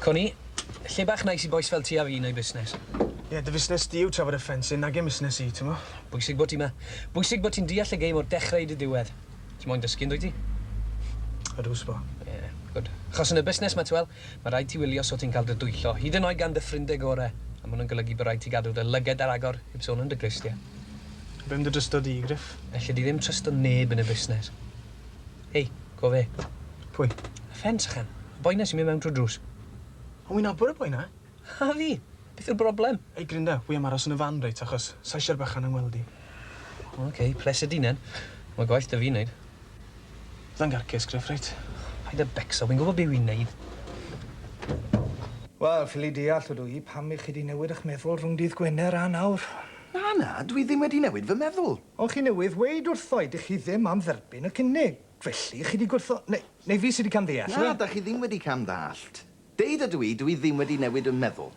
Co ni. Lle bach nais i bois fel ti a fi neu busnes. Ie, yeah, dy fusnes di yw trafod y ffensyn nag yn busnes i, ti'n mo? Bwysig bod ti ma. Bwysig bod ti'n deall y geim o'r dechrau i dy diwedd. Ti moyn dysgu, yndwyt ti? Ydw, sbo. Ie, yeah, gwd. Chos yn y busnes ma, ti wel, Mae rhaid ti wylio so ti'n cael dy dwyllo, hyd yn oed gan dy ffrindie gore, a ma hwn yn golygu bod rhaid ti gadw dy lyged ar agor, heb sôn am dy glustie. A be am dy drysto di, Griff? Elli di ddim trysto neb yn y busnes. Hei, co fe. Pwy? Y ffens ychan. Y boi na sy'n mynd mewn trwy'r drws. O, wi'n nabod y boi na. Harry! Beth yw'r broblem? Ei Glinda, wi am aros yn y fan reit achos sa isio'r bychan yn ngweld i. O ok, pleser di nen. Mae gwaith da fi'n neud. Fydda i'n garcius, Griff, reit? Paid a becso, wi'n gwybod be wi'n neud. Wel, ffili deall ydw i, pam i chi di newid ych meddwl rhwng dydd Gwener a nawr? Na, na, dw i ddim wedi newid fy meddwl. Ond chi newydd weud wrtho i dych chi ddim am dderbyn y cynnig, felly chi di gwrtho- neu fi sy di cam ddeall? Na, da chi ddim wedi cam ddallt. Deud ydw i, dw i ddim wedi newid 'y meddwl.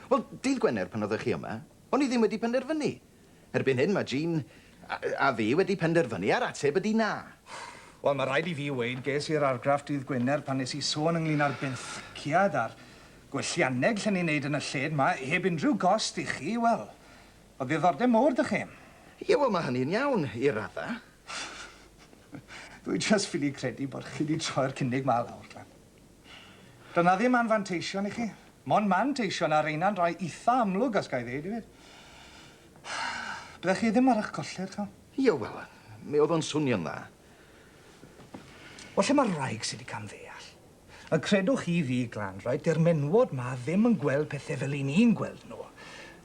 Wel, dydd Gwener pan oeddech chi yma, o'n i ddim wedi penderfynu. Erbyn hyn mae Jean a a fi wedi penderfynu a'r ateb ydy na. Wel, mae rhaid i fi weud, ges i'r argraff dydd Gwener pan nes i sôn ynglŷn â'r benthyciad a'r gwellianneg lle ni'n neud yn y lled 'ma, heb unrhyw gost i chi, wel, o ddiddordeb mowr 'da chi. Ie, wel, mae hynny'n iawn, i radda. Dw i jyst ffili credu bod chi 'di troi'r cynnig 'ma lawr, Glan. Doedd 'na ddim anfanteision i chi. Mond manteision, a reina'n rai itha amlwg os ga i ddeud hefyd. Byddech chi ddim ar 'ych colli rhagor. Ie, wel, mi o'dd o'n swnio'n dda. Wel, lle ma'r wraig sy 'di camddeall? A credwch chi fi, Glan, reit, 'di'r menywod 'ma ddim yn gweld pethe fel 'yn ni'n gweld nw.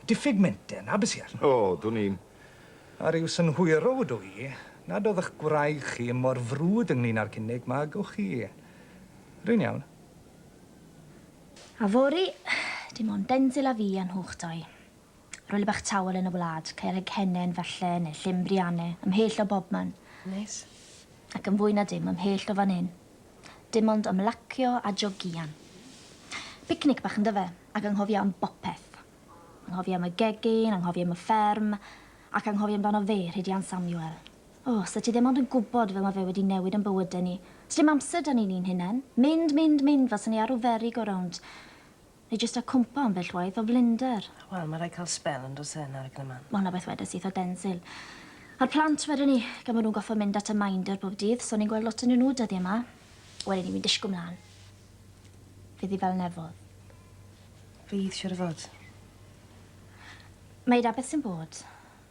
Diffyg menter, 'na be' sy arno fo. O, dwn i'm. A ryw synhwyro ydw i nad o'dd 'ych gwraig chi mor frwd ynglŷn â'r cynnig 'ma, gewch chi. Rwy'n iawn. A fory, dim ond Denzil a fi a nhw'ch dau. Rwle bach tawel yn y wlad, Caerheg Hennen, falle, neu Llyn Brianne, ymhell o bobman. Neis. Ac yn fwy na dim, ymhell o fan hyn. Dim ond ymlacio a jogïan. Picnic bach yndyfe? Ac anghofio am bopeth. Anghofio am y gegin, anghofio am y fferm, ac anghofio amdano fe, Rhidian Samuel. O, 'set ti ddim ond yn gwybod fel mae fe wedi newid yn bywydau ni. Sdim amser 'da ni ni'n hunain. Mynd, mynd, mynd fel 'sa ni ar ryw ferry go round. Neu jyst a cwmpo ambell waith o flinder. Wel, mae rhaid cael sbel yn does e, yn argn y man. Mae hwnna beth wedes i eitha denzil. A'r plant wedwn i, gan bod nhw'n gorfod mynd at y minder bob dydd, so o'n i'n gweld lot onyn nhw dyddiau 'ma. Wedyn i fi'n disgwl mlan. Fydd hi fel nefodd. Fydd, siŵr o fod. Mae 'na beth sy'n bod.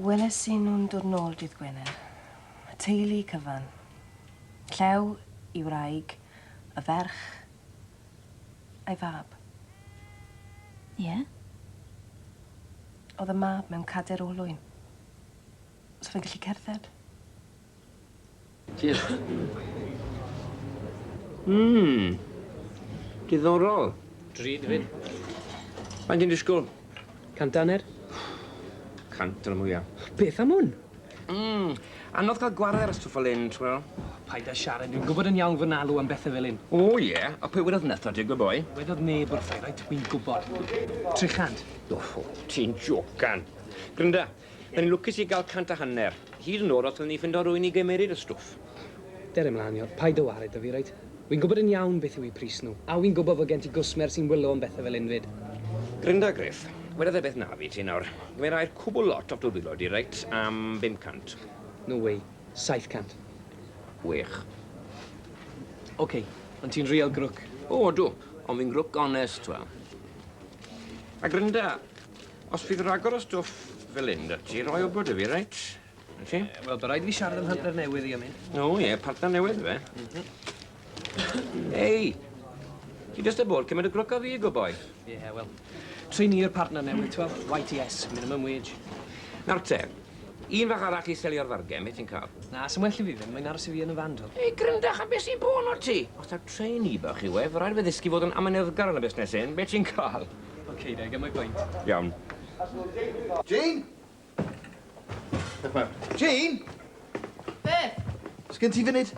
Weles i nhw'n dod nôl dydd Gwener. Y teulu cyfan. Llew, i wraig, y ferch, a'i fab. Ie? Oedd y mab mewn cader olwyn. So fe'n gallu cerdded. Diolch. Mmm. Diddorol. Drud fyd. Faint yn disgwyl? Cant daner. Cant yn y mwya. Beth am hwn? Mmm. Anodd cael gwared ar y stwff fel hyn, t'wel. Paid a siarad, dwi'n gwybod yn iawn fy nalw am bethe fel hyn. O ie? A pwy wedodd netho ti, good boy? Wedodd neb wrthai, reit, wi'n gwybod. Tri chant. O, ti'n jocan. Grynda, O'n i'n lwcus i gael cant a hanner. Hyd yn oed os o'n i'n ffindo rhywun i gymeryd y stwff. Dere mlaen Ior, paid â wared 'da fi, reit? Wi'n gwybod yn iawn beth yw eu pris nhw, a wi'n gwybod fod gen ti gwsmer sy'n wylo am bethau fel hyn 'fyd. Grynda Griff, wedodd e beth naf i ti nawr. Gymerai'r cwbl lot o'ch dwrfilo di, reit, am bum cant. No way. Saith cant. Wych. Ok, ond ti'n real grwc. O, odw, ond fi'n grwc onest, t'wel. A grynda, Os bydd rhagor o stwff fel hyn 'da ti, rhoi wybod 'da fi, reit? Felly? Eh, wel, bydd rhaid fi siarad â mhartner newydd i am hyn. O ie, partner newydd fe? Mhm. Ei! Ti jyst â bod cymryd y grwc a fi, go boi. Ie, yeah, wel, trin i'r partner newydd, ti'n gweld? YTS, minimum wage. Nawr te, un fach arall i selio'r fargen, beth ti'n cael? Na, sy'n well i fi ddim, mae'n aros i fi yn y fan, dwi'n. Ei, gryndach, a beth sy'n bod o ti? Os ta trainee bach i wef, rhaid fe ddysgu fod yn amyneddgar yn y busnes hyn, beth ti'n cael? Okay, I get my point. Iawn. Jane? Beth mae? Jane? Beth? Sgyn ti funud?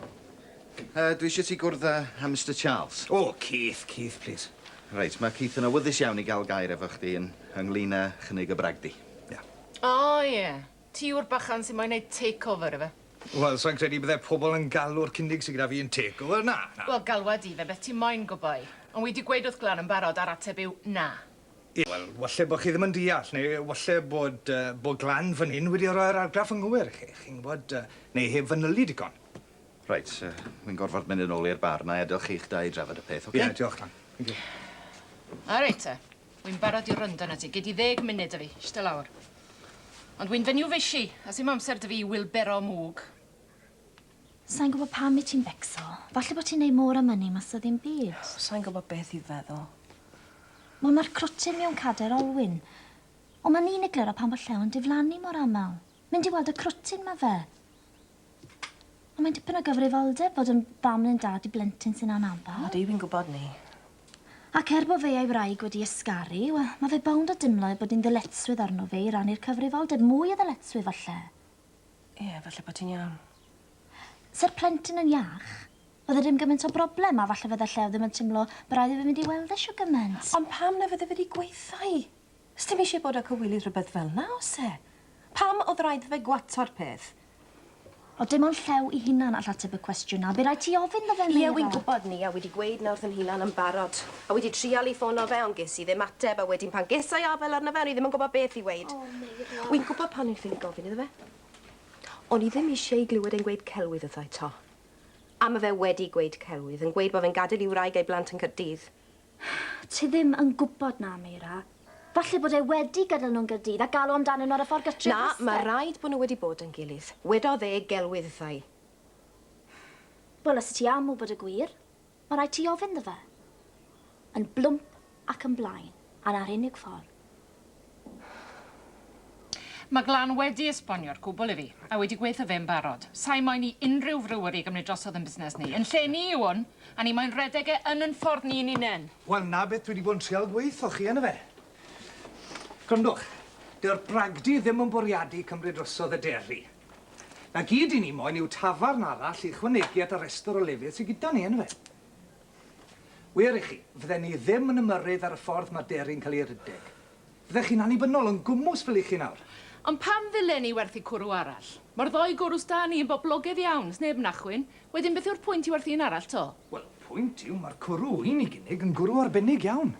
Uh, dwi eisiau ti gwrdd â uh, Mr Charles. O, oh, Keith, Keith, please. Reit, mae Keith yn awyddus iawn i gael gair efo chdi yn ynglyn â chynnig y bragdi. Ia. Yeah. O, oh, ie. Yeah. Ti yw'r bachan sy'n moyn neud takeover ife? Wel, sai'n credu y bydde pobl yn galw'r cynnig sy gyda fi yn takeover, na, na. Wel, galwa di fe beth ti moyn, good boy. Ond wi di gweud wrth Glan yn barod a'r ateb yw na. Ie, wel, walle bod chi ddim yn deall, neu walle bod, yy, bod Glan fan hyn wedi roi'r argraff anghywir i chi, chi'n gwybod, yy, neu heb fanylu digon. Reit, yy, wi'n gorfod mynd yn ôl i'r bar, 'na i adel chi'ch dau drafod y peth, ocê? Ie, diolch, Glan. Thank you. Reit te. Wy'n barod i wrando arnat ti. Gei di ddeg munud 'da fi. Ishte lawr. Ond wy'n fenyw fishi, a sim amser 'da fi i wylbero mwg. Sai'n gwybod pam wyt ti'n becso. Falle bod ti'n neud more money mas o ddim byd. Sai'n gwybod beth i feddwl. Wel, mae'r crwtyn mewn cader olwyn. Ond mae'n un egluro pam bod llew yn diflannu mor aml. Mynd i weld y crwtyn mae fe. Ond mae'n dipyn o gyfrifoldeb bod yn fam neu'n dad i blentyn sy'n anabal. Ydy, fi'n gwybod 'ny. Ac er bo fe a'i wraig wedi ysgaru, wel, ma fe bownd o dimlo ei bod hi'n ddyletswydd arno fe i rannu'r cyfrifoldeb, mwy o ddyletswydd falle. Ie, falle bo ti'n iawn. Sa'r plentyn yn iach, bydde dim gymaint o broblem, a falle fydde Llew ddim yn timlo bo raid i fe fynd i weld e shwt gymaint. Ond pam na fydde fe 'di gweutha i? Sdim isie bod â cywilydd rhywbeth fel 'na, o's e? Pam o'dd raid 'tho fe gwato'r peth? O dim ond llew 'i hunan all ateb y cwestiwn 'na. By raid ti ofyn 'tho fe, Meira. Ie, wi'n gwbod, Nia, wedi gweud 'na wrth 'yn hunan yn barod. A wedi trial i ffono fe, ond ges i ddim ateb, a wedyn pan ges I afel arno fe, o'n i ddim yn gwbod beth i weud. O, Meira. Wi'n gwbod pan o'n ffili gofyn iddo fe. O'n i ddim isie i glywed e'n gweud celwydd wrtho i 'to. A ma' fe wedi gweud celwydd, yn gweud bo fe'n gadel i wraig a'i blant yn Caerdydd. Ti ddim yn gwybod 'na, Meira. Falle bod e wedi gadael nhw yn Gaerdydd a galw amdanyn nhw ar y ffordd gartref nesa'. Na, mae rhaid bod nhw wedi bod yn gilydd. Wedodd e gelwydd wrtha i. Wel, os ti am wybod y gwir, mae rhaid ti ofyn 'ddo fe. Yn blwmp ac yn blaen, a 'na'r unig ffordd. Mae Glan wedi esbonio'r cwbl i fi, a wedi gweutho fe yn barod. Sai moyn i unrhyw friweri gymryd drosodd yn busnes ni. Yn lle ni yw hwn, a ni moyn redeg e yn yn ffordd ni'n unen. Wel, 'na beth dwi 'di bod yn trial gweutho chi yno fe. Gwrandwch, dyw'r bragdy ddim yn bwriadu cymryd drosodd y deri. 'Na gyd 'yn ni moyn yw tafarn arall i ychwanegu at y restr o lefydd sy gyda ni yno fe. Wir i chi, fydden ni ddim yn ymyrryd ar y ffordd mae Derry'n cael ei rydeg. Fyddech chi'n annibynnol yn gwmws fel 'y chi nawr. Ond pam ddylen i werthu cwrw arall? Mae'r ddou gwrw s'da ni yn boblogaidd iawn, 's neb yn achwyn. Wedyn beth yw'r pwynt i werthu un arall 'to? Wel, y pwynt yw, mae'r cwrw un i gynnig yn gwrw arbennig iawn.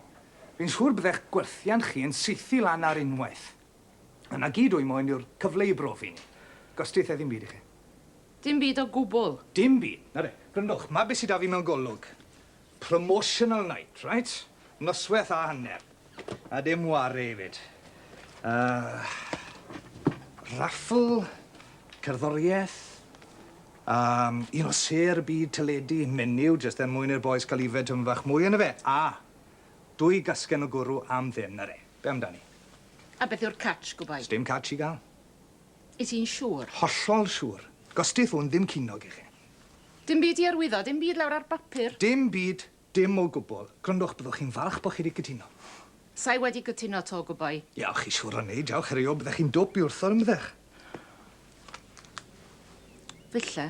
Fi'n siŵr byddech gwerthiant chi yn saethu lan ar unwaith. Yna gyd wy moyn yw'r cyfle i brofi ni. Gostiaethe ddim byd i chi. Dim byd o gwbwl. Dim byd. Na de. Gwrandwch, 'ma be' sy 'da fi mewn golwg. Promotional night, reit? Nosweth a hanner. A dim ware 'efyd. Yy raffl, cerddorieth, yym un o sêr y byd teledu, menyw, jyst er mwyn i'r bois ga'l yfed tymed fach mwy yno fe, a dwy gasgen o gwrw am ddim, na de. Be' amdani? A beth yw'r catch, gwbai? Sdim catch i ga'l. Wyt ti'n siŵr? Hollol siŵr. Gosti ffôn ddim cinog i chi. Dim byd i arwyddo, dim byd lawr ar bapur. Dim byd, dim o gwbwl. Gwrandwch, byddwch chi'n falch bod chi wedi cytuno. Sa i wedi cytuno 'to, gwyboi. Ia, chi siŵr o neud, diolch, herwydd byddech chi'n dwp i wrthod ymdrech. Ddille.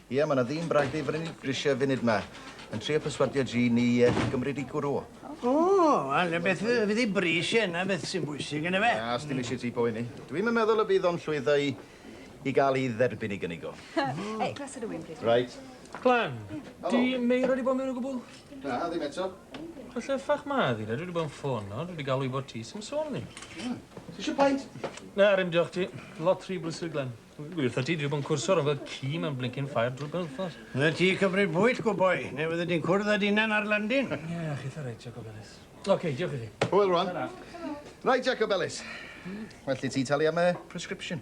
Ie, mae 'na ddyn bragdy fy' ni'n grisiau funud 'ma, yn trio perswadio ji ni i gymryd i gwrw. O, wel, y beth fy- fydd 'i bris e, 'na beth sy'n bwysig, yndyfe? Na, os dim isie ti poeni. Dwi'm yn meddwl y bydd o'n llwyddo i i ga'l 'i dderbyn 'i gynnig o. Ei, glas o rwyn, plîs. Reit. Clem, 'di Meira 'di bod mewn o gwbwl? Na, ddim eto. Wel, lle ffyc ma' ddi de? Dwi 'di bod yn ffono, dwi 'di galw i wbod ti, sim sôn 'ny. Tisio paid? Na, 'r'un diolch ti. Lot rhy brysur, Glen. Wrtha ti, dwi 'di bod yn cwrso rownd fel ci mewn blincin ffair drwy'r penwythnos. Fyddet ti cymryd bwyll, good boy, neu fyddet ti'n cwrdd â dy unan ar landin. Ie, chitha reit, Jacob Ellis. Oce, diolch i chi. Hwyl rwan. Tara. Right, Jacob Ellis. Well i ti talu am y prescription.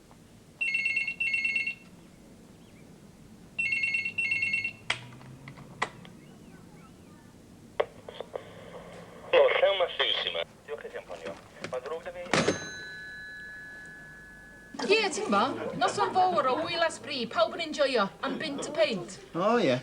Ie, ti'n bo, noson fawr o wyl a sbri, pawb yn enjoio, am bunt y peint. O, ie.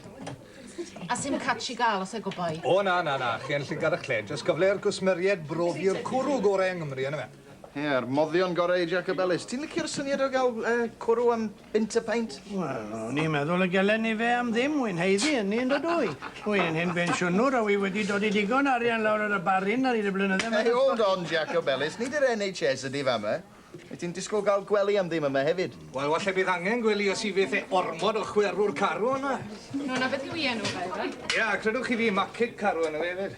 A sy'n catch i gael os ego boi. O, na, na, na, chi yn llygad y cled, jyst cyfle i'r gwsmeriaid brofi'r cwrw gorau yng Nghymru, yna fe. Ie, yr moddion gore i Jacob Ellis. Ti'n licio'r syniad o ga'l yy cwrw am bunt y peint? Wel, o'n i'n meddwl y gelen ni fe am ddim, wy'n haeddu ynni yndo dw i? Wi yn hen bensiynwr a wi wedi dodi digon o arian lawr ar y barin ar hyd y blynydde Hey, hold on, Jacob Ellis, nid yr NHS ydi fama. Wyt ti'n disgwl ga'l gwely am ddim yma hefyd? Wel, falle bydd angen gwely os i fyth e ormod o chwerw'r carw yma. O, 'na beth yw 'i enw fe, yfe? Ia, credwch chi fi, Macig Carw enw fe efyd.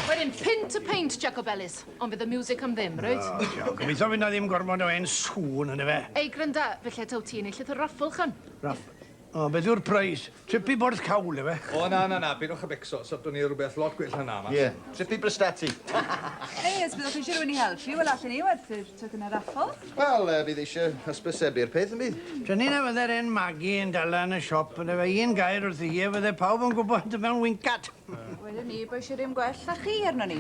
Wedyn, pin to paint, Jacobellis. Ond fydd y music am ddim, reit? O, ciao. Gobeithio fydd na ddim gormod o hen sŵn yn y fe. Ei, grynda, fe lle taw ti yn ei llythyr raffl, chym? Raff... O, beth yw'r preis? Trip i Borth Cawl, efe? O, na, na, na, pidwch a becso. Sorto ni rhywbeth lot gwell na 'na, mas. Ie, trip i Brysteti. Ei, os byddwch chi eisiau rhywun i helpu, wel, allen ni werthu'r tocynnau raffl. Wel, bydd eisiau hysbysebu'r peth, yn bydd? Dyni na fyddai'r hen magi yn dala yn y siop, yn efe? Un gair wrthi hi a fydde pawb yn gwybod mewn wincat. Wedyn ni, bo eisiau rhywun gwell na chi arno ni.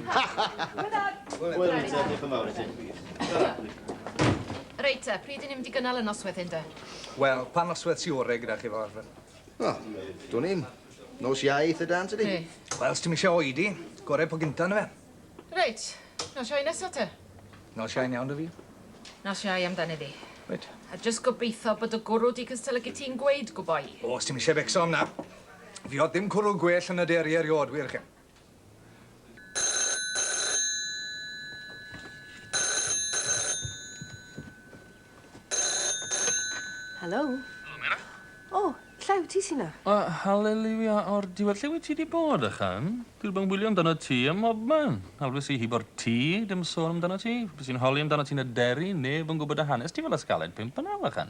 Wel, yn te, diolch yn fawr i ti. Reit te, pryd i ni'n mynd i gynnal y noswedd hyn de? Wel, pa noswedd sy'n orau gyda chi fel arfer? O, dwn i'n nos iau eitha dan, tydi? Wel, os ti'n eisiau oedi, gorau po gynta yna fe. Reit, nos iau nesaf te? Nos iau iawn da fi. Nos iau amdani fi. Reit. A jyst gobeithio bod y gwrw di cystylygu ti'n gweud, gwboi. O, os ti'n eisiau becso am na. Fi odd dim cwrw gwell yn y deri eriod, wir chi. Helo? Helo, Mena? O, lle yw ti, Sina? O, haleliwia o'r diwedd. Lle wyt ti di bod, ychan? Dwi bang wylio amdano ti ym mobman. Alwys i hi bo'r tŷ, dim sôn amdano ti. Bys i'n holi amdano ti yn y deri, neb yn gwybod dy hanes ti fel ysgaled pump yn aw, ychan.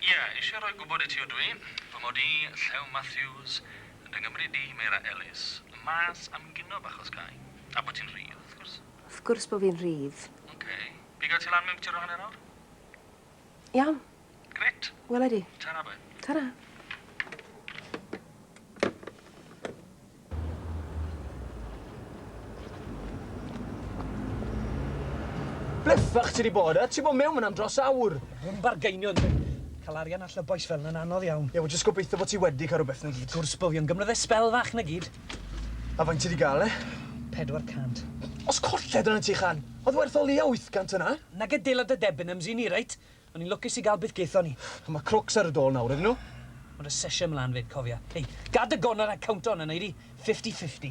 Ie, eisiau rhoi gwybod i ti ydw i, fy mod i, Llew Matthews, yn dy Nghymru di, Meira Ellis, mas am gino bach os gai. A bod ti'n rhydd, wrth gwrs. Wrth gwrs bod fi'n rhydd. Ok, piga ti lan mewn cwtir o hanner awr? Iawn. Grêt. Wela i di. Tara boi. Tara. Ble ffyc ti 'di bod yy? Ti bod mewn fan 'na am dros awr! Rhym bargeinio yndw i. Ca'l arian allan o bois fel 'na'n anodd iawn. Ie wel jyst gobeithio bo' ti wedi ca'l rwbeth 'na gyd. Gwrs bo fi ond gymra fe sbel fach 'na gyd. A faint ti 'di ga'l e? Pedwar cant. Os colled arnat ti Chan! O'dd werth o leia wyth gant yna. Nage dela dy Debenhams i ni reit? O'n i'n lwcus i gael beth gaethon ni. Ond mae crwcs ar y dôl nawr, ydyn nhw? Mae dy sesiwn mlan 'fyd, cofia. Hei, gad dy gonnau rhag count on a wneud hi fifty fifty.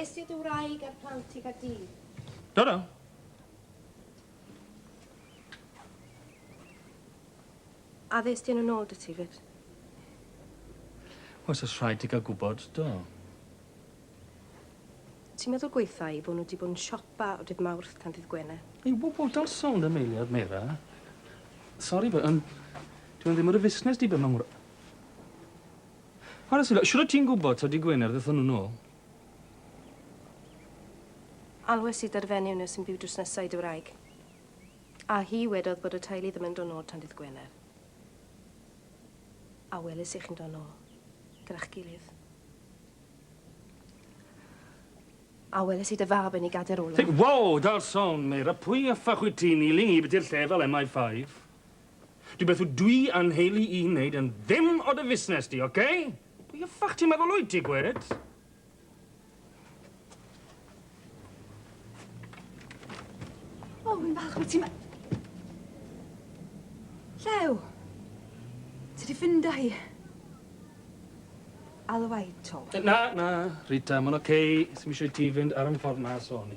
Is ti dy wraig a'r plant i Gaerdydd? Do, do. A ddes ti yn yn ôl dy ti fyd? Os oes rhaid ti gael gwybod, do. Ti'n meddwl gweitha i bod nhw wedi bod yn siopa o dydd Mawrth tan dydd Gwener? Ei wobl, don't sôn am eiliad, Meira. Sori, but, um, dwi'n ddim yn y fusnes di be' mae mor... Chware sylw, shwt o't ti'n gwybod taw dy Gwener ddethon nhw nôl? Alwes i 'da'r fenyw 'na sy'n byw drws nesa i dy wraig. A hi wedodd bod y teulu ddim yn dod nôl tan dydd Gwener. A weles i chi'n dod nôl, gyda'ch gilydd. A weles i dy fab yn ei gader olaf. Think, wow, Darson, Meira, pwy a ffach wyt ti'n, Ealing i biti'r lle fel MI5? Dwi beth w dwi a nheulu i neud yn ddim o dy fusnes di, ok? Pwy y ffyc ti'n meddwl wyt ti, gwed? O, fi'n falch bod ti'n... Llew! Ti di ffindo hi? Alwaito. Na, na, Rita, ma'n ok. Sim isio i ti fynd ar yn ffordd na, sori.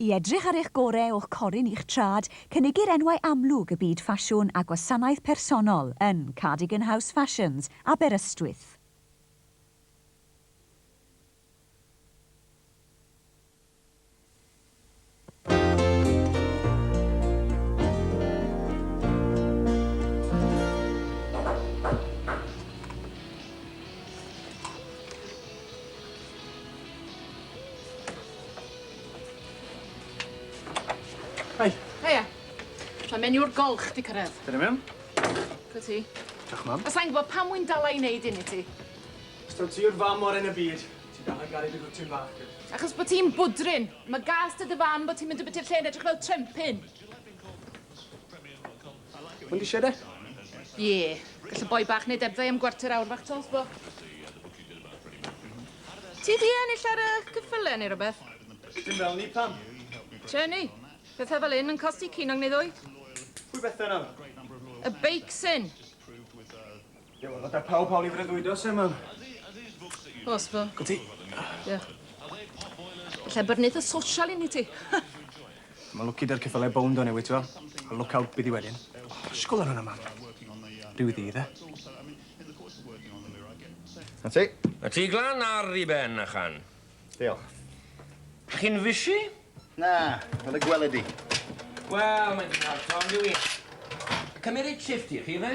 I edrych ar eich gorau o'ch corun i'ch trad, cynigir enwau amlwg y byd ffasiwn a gwasanaeth personol yn Cardigan House Fashions, Aberystwyth. Hei. Heia. Mae menyw golch di cyrraedd. Dyna mewn. Dy ti. Diolch, mam. A sa'n gwybod pam wy'n dal a'i wneud un i ti. Os taw ti yw'r fam o'r yn y byd, ti dal yn garu dy gwtyn bach, dwyt? Achos bod ti'n bwdrin. Mae gas dy dy fam bod ti'n mynd o biti'r lle yn edrych fel trempyn. Ond eisiau de? Ie. Gall y boi bach wneud ebddau am gwarter awr fach tols, bo. Ti di ennill ar y cyffyle neu rhywbeth? Dim fel ni, pam? Tjeni, pethau fel hyn yn costi cinoeg neu ddwy. Pwy bethau nawr? Y beics hyn! Ie, wel, gyda pawb hawl i freuddwydo, Sema. Os fo. Go ti. Ie. Lle bod neud y social inni ti. Mae lwci dy'r ceffylau bownd o'n newid, ti'n A look out byddi wedyn. Sgol ar hwnna, mam. Rhyw ddi, dde? Na ti. Na ti glan ar i ben, Achan. Diolch. Chi'n fishy? Na, fel y gwele di. Wel, mae'n dipyn od t'mo' on'd yw 'i? Cymeryd shifft i chi ife?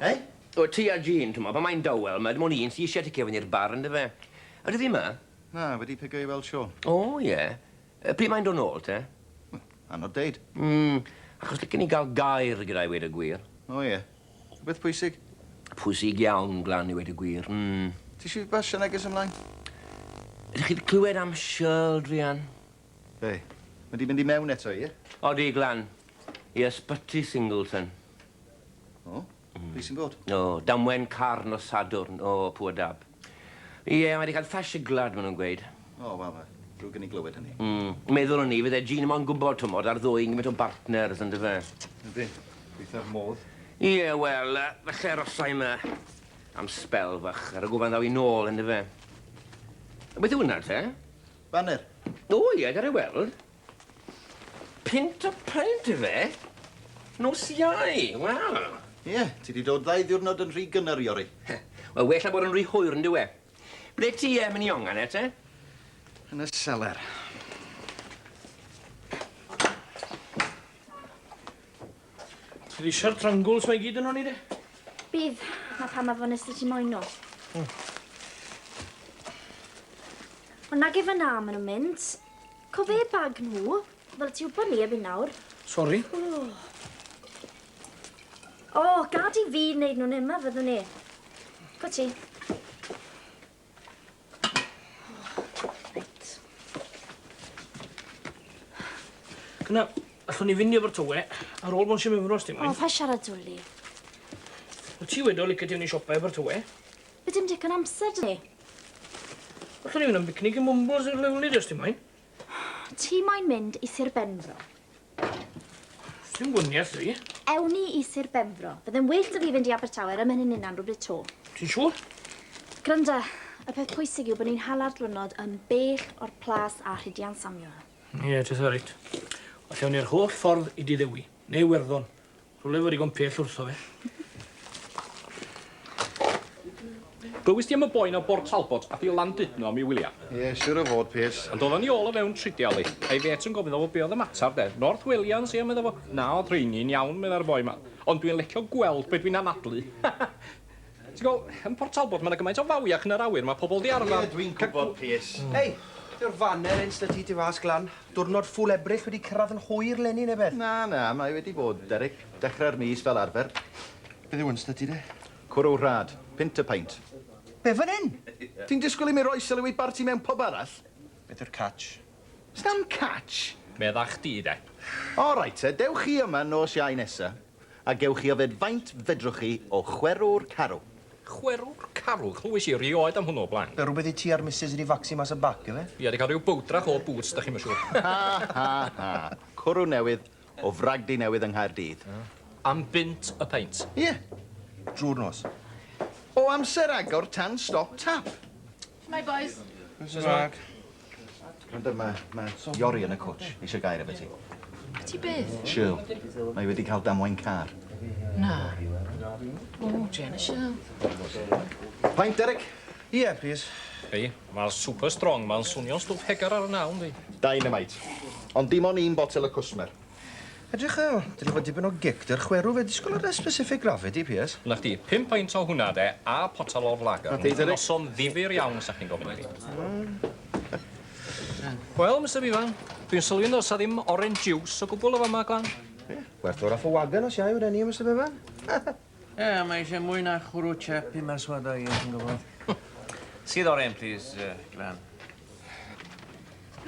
Eh? O ti a Jean, t'mo', pan mae'n dawel, ma' dim ond un sy isie ticio fyny i'r bar on'd yfe? Ydyw fi 'ma? Na, wedi pigo i weld Siôn. O ie. Yy pryd mae'n do' nôl te? Wel, anodd deud. Mm, achos licen i ga'l gair gyda 'i weud y gwir. O ie. Rhywbeth pwysig? Pwysig iawn, Glan, i weud y gwir. Mm. Ti eisiau fi basio neges ymlaen? Ydych chi wedi clywed am Shirl, Rhian? Be? Mae di mynd i mewn eto, ie? Odi, Glan. I ysbyty Singleton. O? Be sy'n bod? O, damwen carn o Sadwrn. O, pŵa dab. Ie, mae 'di cael ffasiy gwlad, maen nhw'n gweud. O, wel, fe. Drwg i ni glywed hynny. Mm. Meddwl o'n i, fydde Jean mo'n gwybod, tw'mod, ar ddwy yn gymaint o bartners, on'd yfe? Yndi. Gweithio'r modd. Ie, wel, falle arosai 'ma am sbel fach, ar y gwfan ddaw i nôl, on'd yfe? Beth yw hwnna te? Baner. O, ie, gad i weld. Punt y punt ife? Nos Iau, wel. Ie, ti 'di dod ddau ddiwrnod yn rhy gynnar i ori. Wel, well na bod yn rhy hwyr yn dyw e. Ble ti yy myn' i ongan e te? Yn y seler. Ti di siart rangwls mae gyd yn honi de? Bydd, na pam afon nes ti moyn nhw. Hmm. Ond nag efe na maen nhw'n mynd. Cofe bag nhw, fel ti wybod ni erbyn nawr. Sori. O, oh, gad i fi wneud nhw'n yma, fyddwn ni. Go ti. Gwna, allwn ni fynd i Abertawe ar ôl bod sy'n mynd os ti'n mynd. O, pa siarad dwli. O ti wedi o licio ti mynd i siopa i Abertawe? Be dim digon amser dyn ni? Allwn ni fynd am bicnic i Mumbles i'r Liwlyd os ti moyn. Ti moyn mynd i Sir Benfro? Sdim gwniath dwi. Ewn ni i Sir Benfro. Byddai'n well da fi fynd i Abertawe ar ymhen hynny'n rhywbryd to. Ti'n siŵr? Granda, y peth pwysig yw bod ni'n hala'r dwrnod yn bell o'r plas a rhidian Samuel. Ie, yeah, ti'n reit. Os ewn ni'r holl ffordd i Diddewi, neu Werddon, Rhywle fo digon pell wrtho fe. Glywis ti am y boi na o Bort Talbot ath i Landudno am i wylia? Ie, siwr o fod, Piers. Ond odd o ni ôl o fewn tridiau, li. A'i fêt yn gofyn iddo fo be oedd y matar, de. North Welians, ie, medda fo. Na, o'dd rheini'n iawn, meddai'r boi ma. Ond dwi'n lecio gweld be dwi'n anadlu. Ti'n gweld, yn Port Talbot ma' 'na gymaint o fawiau ac yn yr awyr ma' pobol 'di arfar... Ie dwi'n gwbod Pierce. Hei! Dyw'r faner ints 'da ti tu fas glan. Dwrnod ffwl Ebrill wedi cyrradd yn hwyr eleni ne' beth? Na na, mae wedi bod, Derek. Dechre'r mis fel arfer. Beth yw ints 'da ti de? Cwrw rhad. Punt y paint. Be', fan 'yn? Ti'n disgwyl i mi roi sylw i barti mewn pub arall? Beth yw'r catch? S'nam catch! Medda chdi de. O reit te, dewch chi yma nos Iau nesa. A gewch chi yfed faint fedrwch chi o chwerw'r carw. Chwerw'r carw? Chlywais i erioed am hwnnw o blaen. Be rwbeth i ti a'r misus ydi facsi mas y bac ife? Ia, 'di cael rhyw bowdrach o boots, dach chi'm yn siŵr. Ha ha ha! Cwrw newydd o fragdy newydd yng Nghaerdydd. Am bunt y peint? Ie. Drw'r nos. O amser agor tan stop tap. Shwmae bois. Shwmae. Gwranda ma ma Iori yn y cwtsh eisiau gair efo ti. Ti byth? Shirl. Mae wedi cael damwain car. Na. O, Jen a Shirl. Paint, Derek? Ie, plîs. Hei, mae'r super strong ma'n swnio'n stwff hegar ar y naw, yndi? Dynamite. Ond dim on i'n botel y cwsmer. Edrych fel, dwi 'di bod dipyn o gic dy'r chwerw fe disgwl ar y specific gravity piers. Na chdi, pum peint o hwnna de, a potel o'r lager. Nid yn noson ddifyr iawn sa chdi'n gofyn i fi. Wel, Mister Bevan, dwi'n sylwi yn ddoes a ddim orange juice o gwbwl y fama, Glan. Ie, werth o'r off a wagon os iau reni, Mister Bevan. Ie, mae eisiau mwy na chwrw chap i maswad o ie, ti'n gwybod. Sydd o'r hen plîs, Glan.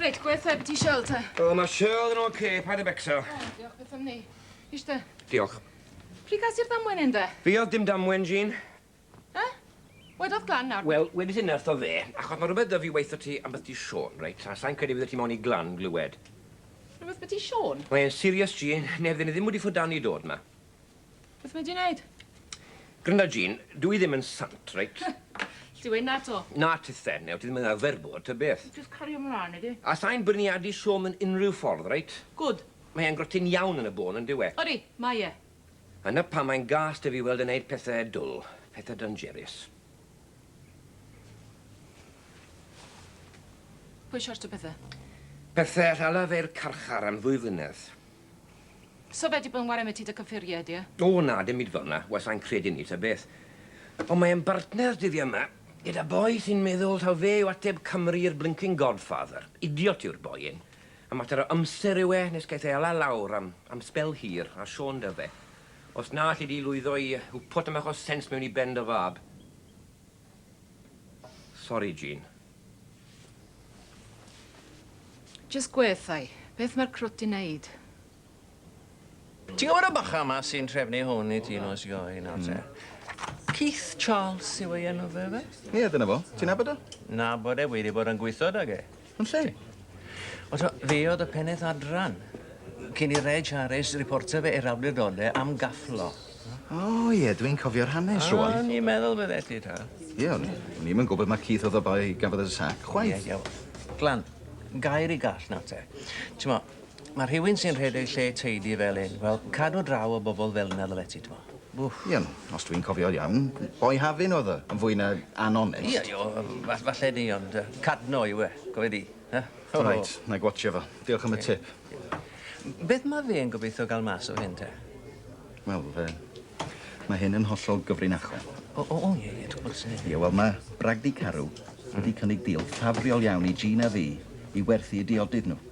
Reit, gweud wrtha i be' ti isio te. O, ma' Shirl yn ocê, paid â becso. O, diolch byth am 'ny. Ishte. Diolch. Pryd gas ti'r damwen 'yn de? Fi odd dim damwen, Jean. E? Wedodd Glan nawr... Wel, wedis inne wrtho fe, achos ma' rwbeth 'da fi weutho ti am beth ti Siôn, reit, a sai'n credu fyddet ti mown i Glan glywed. Rwbeth byti Siôn? Mae'n serious, Jean, neu fydden i ddim wedi ffwdan i dod 'ma. Beth mae di'n neud? Grynda Jean, dw i ddim yn sant, reit? Alli di weud 'na 'to? Na ti then, neu ti ddim yn arfer bod, ta beth. Jyst cario mlaen, ydi? A sa i'n bwriadu siom yn unrhyw ffordd, reit? Gwd. Mae e'n grotyn iawn yn y bôn, yn dyw e? Odi, mae e. A 'na pam mae'n gas 'da fi weld e'n neud pethe dwl, pethe danjerus. Pwy siortio pethe? Pethe all ala fe i'r carchar am ddwy flynedd. So fe di bod yn ware ambytu dy cyffuriau di e? O na, dim byd fel na, wel sai'n credu yni ta beth. Ond mae e'n bartner dyddie yma, gyda boi sy'n meddwl taw fe yw ateb Cymru i'r blincin Godfather. Idiot yw'r boi hyn. A mater o amser yw e nes gaeth e ala lawr am am sbel hir, a Siôn 'da fe. Os na alli di lwyddo i hwpo tamaid o sens mewn i ben dy fab. Sori, Jean. Jyst gwedda i, beth mae'r crwt 'di neud? Ti'n gwybod y bachgen 'ma sy'n trefnu hwn i ti nos Ioe nawr te? Keith Charles yw ei enw fe, ife? Ie, dyna fo. Ti'n nabod o? Nabod e, wi 'di bod yn gwitho 'dag e. Yn lle? Wel t'mo' fe o'dd y pennaeth adran cyn i Reg Harris riportio fe i'r awdurdode am gafflo. O ie dwi'n cofio'r hanes rŵan. O'n i'n meddwl byddet ti t'wo'. Ie o'n i o'n i'm yn gwbod ma' Keith o'dd y boi gafodd y sac chwaith. Ie ie wel glan gair i gall nawr te. T'mo' Mae rhywun sy'n rhedeg lle teidi fel hyn, wel, cadw draw o bobl fel yna ddylet ti, t'mo'. Wff. Ie, os dwi'n cofio'n iawn, boi Hafin oedd o, yn fwy na anonest. Ie, ie, o, falle 'ny, ond yy Cadno yw e, cofe di, yy. O reit, 'nai gwatsio fo. Diolch am y tip. Beth ma' fe'n gobeithio ga'l mas o hyn te? Wel, yy, ma' hyn yn hollol gyfrinachol. O, o, o, ie, ie, dw bod syniad. Ie, wel, ma' Bragdy Carew wedi cynnig deal ffafriol iawn i Gina fi i werthu 'u diodydd nw.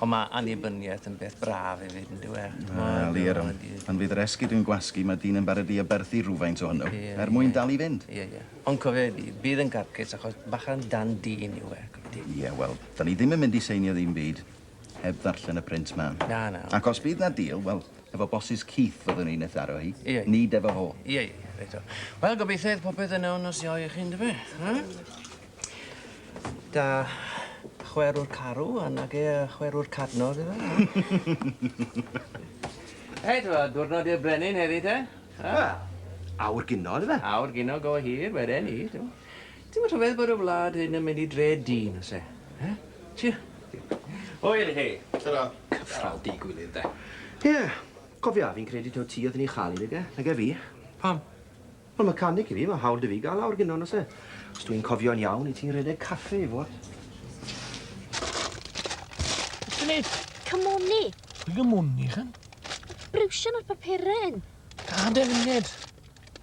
Ond mae annibyniaeth yn beth braf hefyd, yn dyw e? Wel, ie, Ron. Pan fydd yr esgid yn gwasgu, mae dyn yn barod i aberthu rhywfaint ohono, er mwyn dal i fynd. Ie, ie. Ond cofia i, bydd yn garcus achos bachan dan dyn yw e, gwybod ti. Ie, wel, dan ni ddim yn mynd i seinio ddim byd heb ddarllen y print mân. Na, na. Ac os bydd 'na deal, wel, efo bosses Keith fyddwn ni'n ei tharo hi, nid efo fo. Ie, ie, reit o. Wel, gobeithio fydd popeth yn iawn nos Iau i chi, yn dyfe? Da chwerw'r carw a nage yy chwerw'r cadnog yfe? Reit wel diwrnod i'r brenin heddi te? Yy? Wel, awr gino yfe? Awr gino go hir weden i t'mo'. Ti'm yn rhyfedd bod y wlad hyn yn mynd i dre dyn o's e? Yy? Tria. Hwyl i chi. Tara. Cyfrol deu gwilydd de. Ie. Cofia, fi'n credu taw ti o'dd yn 'i chal 'i nage? Nage fi? Pam? Wel ma canic i fi, ma hawl da fi gael awr gino, nose? Os dwi'n cofio'n iawn, i ti'n redeg caffe i fod. Beth ti'n neud? Cymwni. Pwy gymwni, chan? Brwsio na'r papuryn. Da defnydd.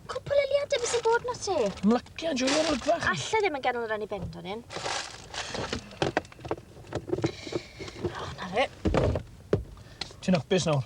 Cwpl eliadau fi sy'n bod na ti. Ymlacia, joio o'r olygfa. Alla ddim yn ganol yr anni bend o'n un. O, na fe. Ti'n apus nawr?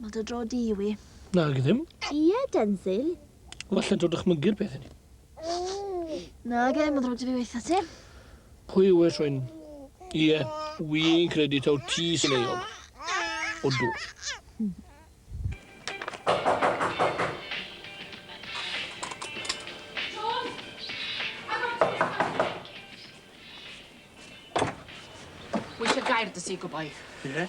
Mae dy dro di, Iwi. Nag ddim. Ie, Denzil. Falle dod dychmygu'r peth i ni. Nag e, mae'n ddrwg ti fi weitha ti. Pwy yw e, Rhwyn? Ie, wi'n credu taw ti sy'n euog. O dw. Wisio gair dy si, gwboi. Ie?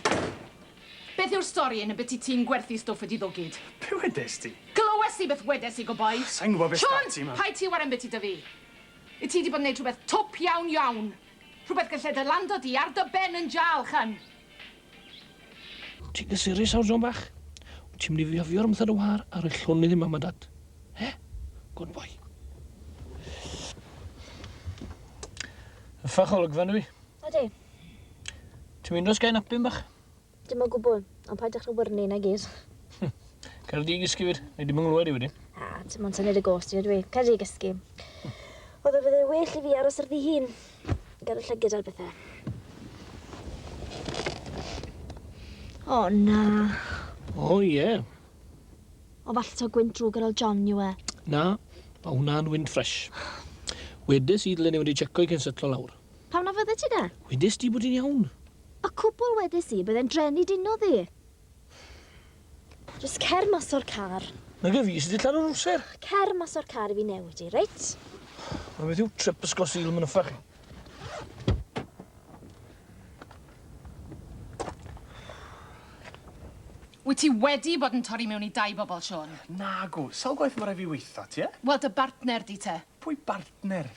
Beth yw'r stori yn y byti ti'n gwerthu stwff wedi ddwgyd? Be wedes di? Glywes i beth wedes i, good boy. Sai'n gwbod beth sgan ti, mam. Siôn! Paid ti warren biti 'da fi. Wyt ti 'di bod yn neud rhywbeth twp iawn iawn. Rhywbeth galle dy lando di ar dy ben yn jâl, ch'en? Wyt ti'n gysurus nawr, John bach? Wyt ti'n mynd i fiofio rhwmth ar dy wâr a rhoi llonydd i mam a dad? He? Good boy. Uffarch olygfa, yndyw 'i? Ydi. Ti'n mynd os gael napyn bach? Dim o gwbl, ond paidwch â wyrnu, na gyd. Cer di gysgu fyd, neu dim yn nghlywed i wedyn. A, ti mo'n tynnu'r y gos ti, ydw i. Cer di gysgu. Oedd o fydde well i fi aros ar fi hun. Gael y llygyd ar bethau. O, na. O, ie. Yeah. O, falle to gwynt drwg ar ôl John yw e. Na, mae hwnna'n wynt ffresh. Wedes i ddyle ni wedi checo i cyn setlo lawr. Pam na fyddet ti de? Wedest ti bod hi'n iawn. Y cwbl wedes i, byddai'n drên i dino ddi. Jyst cer mas o'r car. Nag y fi sydd wedi lladd Ruser. Cer mas o'r car i fi newid i, reit? Mae beth yw trip ysgol Sul Mynuffa chi? Wyt ti wedi bod yn torri mewn i dau bobl, Siôn? Nagw. Sawl gwaith mae rhaid fi weitho ti, e? Wel, dy bartner di te. Pwy bartner?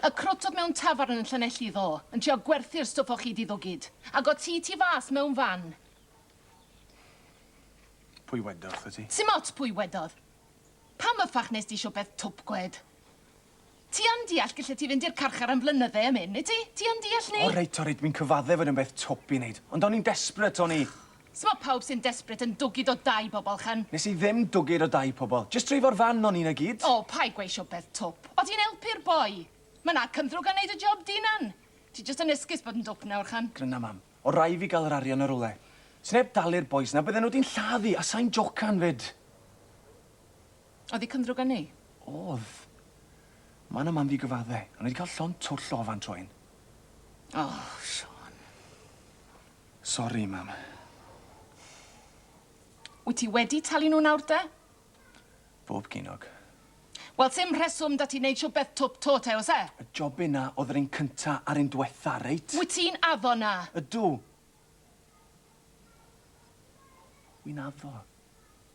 Y crwtwr mewn tafarn yn Llanelli ddo, yn trio gwerthu'r stwff o chi di ddwgid. Ag o ti tu fas mewn fan. Pwy wedodd wrtha ti? Sim ots pwy wedodd. Pam y ffach nes di siwpeth twp gwed? Ti yn deall gillet ti fynd i'r carchar am flynydde am hyn, wyt ti? Ti yn deall ni? O reit, o reit, wi'n cyfadde fod yn beth twp i neud. Ond o'n i'n desperate, o'n i. Sut mae pawb sy'n desperate yn dwgyd o dai pobl, Chan? Nes i ddim dwgyd o dai pobl. Jyst dreifo'r fan o'n i 'na gyd. O, paid gweu' siopeth twp. O' ti'n elpu'r boi. Ma' 'na cymdrwg yn neud y job dy unan. Ti jyst yn esgus bod yn dwp nawr, Chan. Gryna mam. O' rai' fi ga'l yr arian o rywle. Sneb dalu'r bois 'na, bydden nhw 'di'n lladd i, a sai'n jocan 'fyd. O'dd y cymdrwg yn neu'? O'dd. Mam a mam fi gyfadde. O'n i 'di ca'l llond twll o ofan tro un. O, Siôn. Sori, mam. Wyt ti wedi talu nhw nawr de? Bob ginog. Wel, sim rheswm da ti wneud siw beth twp to te, oes e? Y job yna oedd yr un cynta a'r un dwetha, reit? Wyt ti'n addo na? Ydw. Wi'n addo.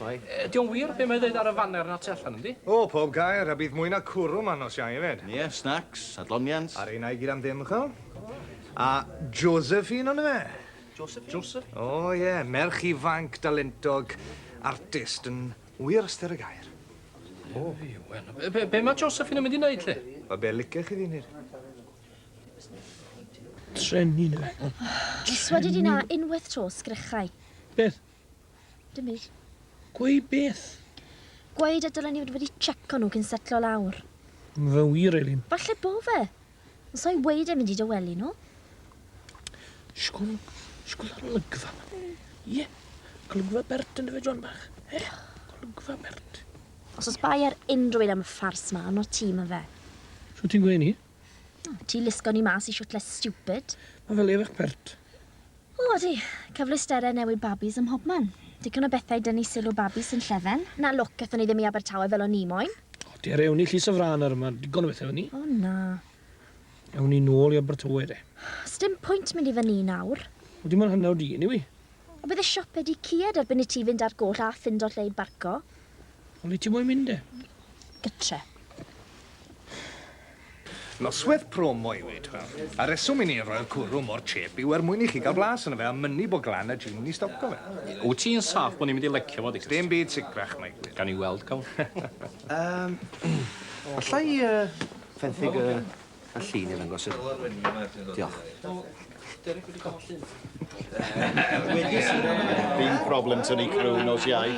Mae. Ydy o'n wir be' mae ddeud ar y faner 'na tu allan yndi? O, pob gair, a bydd mwy na cwrw 'ma nos Iau efyd. Ie, snacs, adloniant. A reina i gyd am ddim, ch'wel'? A Josephine on'd yfe? Josephine? Joseph? O ie, merch ifanc, dalentog, artist yn wir ystyr y gair. O, wel, be- be- be' ma' Josephine yn mynd i neud 'lly? Wel, be' licech chi fi neud? Treni 'ny fe. Dwi swedi di 'na unwaith 'to, sgrychau. Beth? Dim byd. Gweud beth? Gweud y dylen ni fod wedi tseco nhw cyn setlo lawr. Mae fe'n wir, Elin. Falle bo fe. Ond sa i'n weud e'n mynd i dy wely nhw. Sgwn, sgwn ar olygfa ma. Ie, golygfa Bert yn dy fe John bach. Eh, golygfa Bert. Os oes bai ar unrhyw un am y ffars ma, arno ti ma fe. Shwt ti'n gweud ni? Ti lusgo ni mas i siwtle stupid. Mae fel erach pert. O, di. Cyfleusterau newid babis ym mhobman. Digon o bethau dynnu sylw babis sy'n llefen. Na lwc, ethon ni ddim i Abertawe fel o'n ni moyn. O, dere, ewn ni i Llys y Frân nawr, mae digon o bethau fyny. O, na. Ewn ni nôl i Abertawe, de. Sdim pwynt mynd i fyny nawr. O, dim ond hanner awr di, eniwe. O, bydd y siopau di cued erbyn i ti fynd â'r goll a ffindo lle i barco. Ond lle ti moyn mynd de? Gytre. Noswaith promo yw hi, t'wel. A reswm i ni roi'r cwrw mor chip yw er mwyn i chi ga'l blas yno fe a mynnu bo glan y gin i stoco fe. Wt ti'n saff bo ni'n mynd i lecio fo Dickes? Dim byd sicrach mae gwir. Gawn ni weld cawn. Yym allai yy fenthyg y A llun i ddangos yr... Diolch. Derek wedi cael llun. Dim problem tynnu criw nos Iau.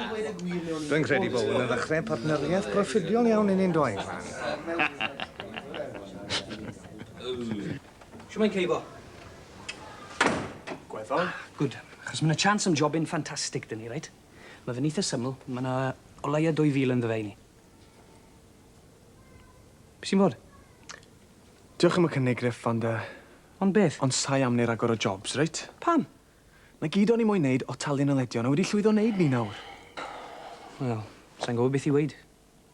Dwi'n credu bod hwn yn ddechrau partneriaeth broffidiol iawn i ni'n doedd, Fran. Shwmae Keibo? Gweddol. Good. Achos ma' 'na chance am jobyn ffantastig 'da ni, reit? Ma' fe'n eitha syml, ma' 'na o leia' dwy fil ynddo fe i ni. Be' sy'n bod? Diolch am y cynnig Griff ond yy... Ond beth? Ond sai am neu ragor o jobs reit? Pam? 'Na gyd o'n i moyn neud o talu naledion a wedi llwyddo neud 'ny nawr. Wel, sai'n gwbo beth i weud.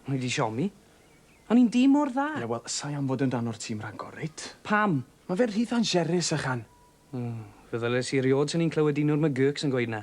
O'n i 'di siomi. O'n i'n dîm mor dda. Ie wel, sai am fod yn rhan o'r tîm ragor reit? Pam? Ma' fe'n rhy thanjerus ychan. O, fe ddyles i eriôd swn i'n clywed un o'r McGurks yn gweud 'na.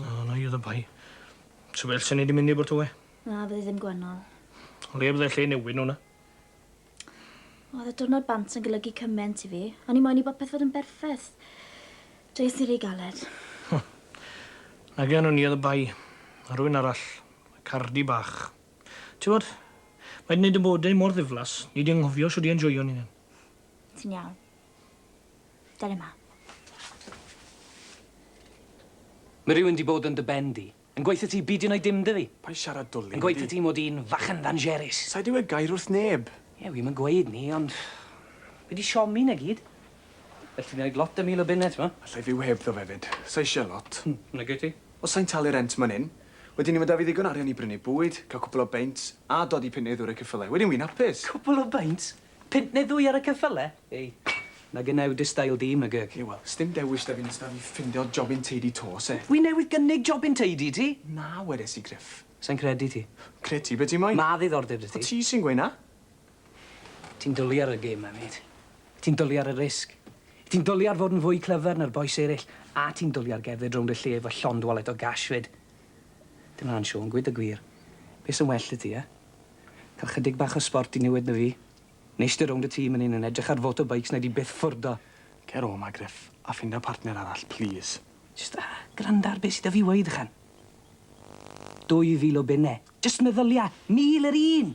O, na i oedd y bai. Ti'n well sy'n ni di mynd i bod tywau? Na, fyddi ddim gwennol. O le byddai lle newid nhw na? Oedd y diwrnod bant yn golygu cyment i fi. O'n i moyn i bopeth fod yn berffaith. Dweud sy'n rhy galed. Na gen o'n i oedd y bai. A rwy'n arall. Y cardi bach. Ti'n bod? Mae di wneud y bodau mor ddiflas, ni di anghofio sio di enjoio ni'n hyn. Ti'n iawn. Dere 'ma. Ma' rywun 'di bod yn dy ben di. Yn gweutho ti beidio neud dim 'da fi. Paid siarad dwli. Yn gweutho ti mod i'n fachgen ddanjerus. Sai 'di weud gair wrth neb. Ie, wi'm yn gweud 'ny, ond fi 'di siomi 'na gyd. Elli di neud lot 'da mil o bunne, t'mo'. Allai fyw heb ddo efyd. Sai isie lot. Hmm, na gei ti. Os sai'n talu rent man 'yn, wedyn 'ny ma' 'da fi ddigon arian i brynu bwyd, ca'l cwpwl o beints, a dodi punt neu ddwr i'r ceffyle. Wedyn wi'n hapus. Cwpwl o beints? Punt neu ddwy ar y cyffyle? Ei, na gynna yw dy stail di, mygyg. Ie, wel, sdim dewis 'da fi nes 'da fi ffindio jobyn teidi 'to, oes e? Wi newydd gynnig jobyn teidi i ti. Na, wedes i, Gruff. Sai'n credu ti. Cred ti be' ti moyn. Ma' ddiddordeb 'da ti. O ti sy'n gweud 'na. Ti'n dwli ar y gêm 'ma, mêt. Ti'n dwli ar y risg. Ti'n dwli ar fod yn fwy clyfar na'r bois eryll, a ti'n dwli ar gerdded rownd y lle efo llond wallet o gash 'fyd. Dim 'na'n siôn, gwed y gwir. Be' sy'n well 'dy ti, e? Cael chydig bach o sbort i niwed na fi. Neis dy rownd y tŷ man 'yn yn edrych ar foto beics na di byth ffwrdd o. Cer o 'ma Gruff a ffinda partner arall plîs. Jyst gwranda ar be sy 'da fi weud ychan. Dwy fil o bunne. Jyst meddylia! Mil yr un!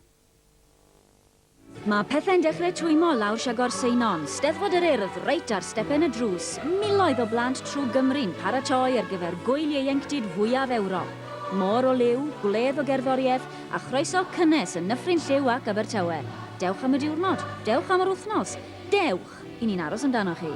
Mae pethau'n dechrau twymmo lawr Siagor Seinon, Steddfod yr Urdd, reit ar stepen y drws, miloedd o blant trwg Gymru'n paratoi ar gyfer gwyl ieuenctid fwyaf Ewrop. Môr o liw, gwledd o gerddoriaeth, a chroeso cynnes yn Nyffryn Lliw ac Abertawe. Dewch am y diwrnod, dewch am yr wythnos, dewch, 'y ni'n aros amdanoch chi!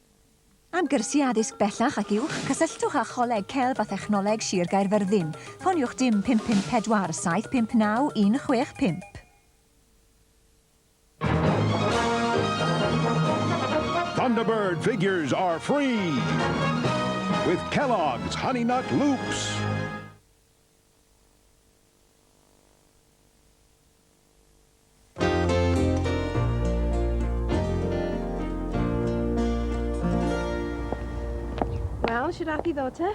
Am gyrsiau addysg bellach ac uwch, cysylltwch â Choleg Celf a Thechnoleg Sir Gaerfyrddin. Ffoniwch dim 554 759 165. Thunderbird figures are free with Kellogg's Honey Nut Loops. Wel, sy'n rhaid i ddod te?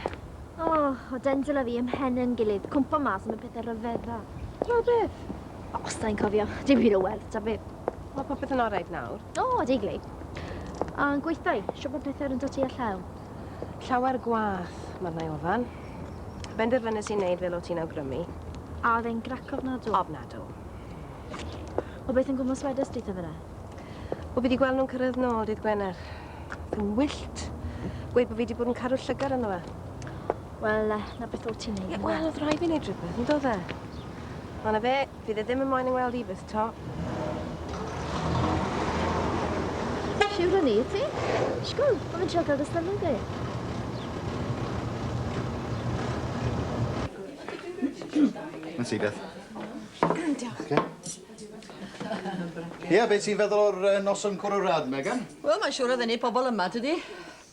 O, oh, o dendrol a fi ym mhen yn gilydd, cwmpa mas am y pethau rhyfedda. Tra beth? O, os da i'n cofio, dim hyd o werth, ta beth. Mae popeth yn orau nawr. O, oh, deiglu. A'n gweithdai, siop o pethau yn dod i a llaw. Llawer gwath, mae'r nai ofan. Benderfynes i wneud fel o ti'n awgrymu. A oedd e'n grac ofnadw? Ofnadw. O beth yn gwmwys wedys di, Tyfyra? O fi di gweld nhw'n cyrraedd nôl dydd Gwener. Yn wyllt. Gweud bod fi di bod yn caru llygad ynddo fe. Wel, na beth o ti'n neud. Wel, oedd rhaid fi wneud rhywbeth, yn dod e? Ond na fe, Fydd e ddim yn moyn yng ngweld i byth 'to. Siwr o ni, ti? Sgwl, mae fe'n trio cael dy sylw di. Mae'n ti beth. Diolch. Ie, beth ti'n feddwl o'r nos yn cwrw rad, Megan? Wel, mae'n siŵr o ddenu pobl yma, tydi?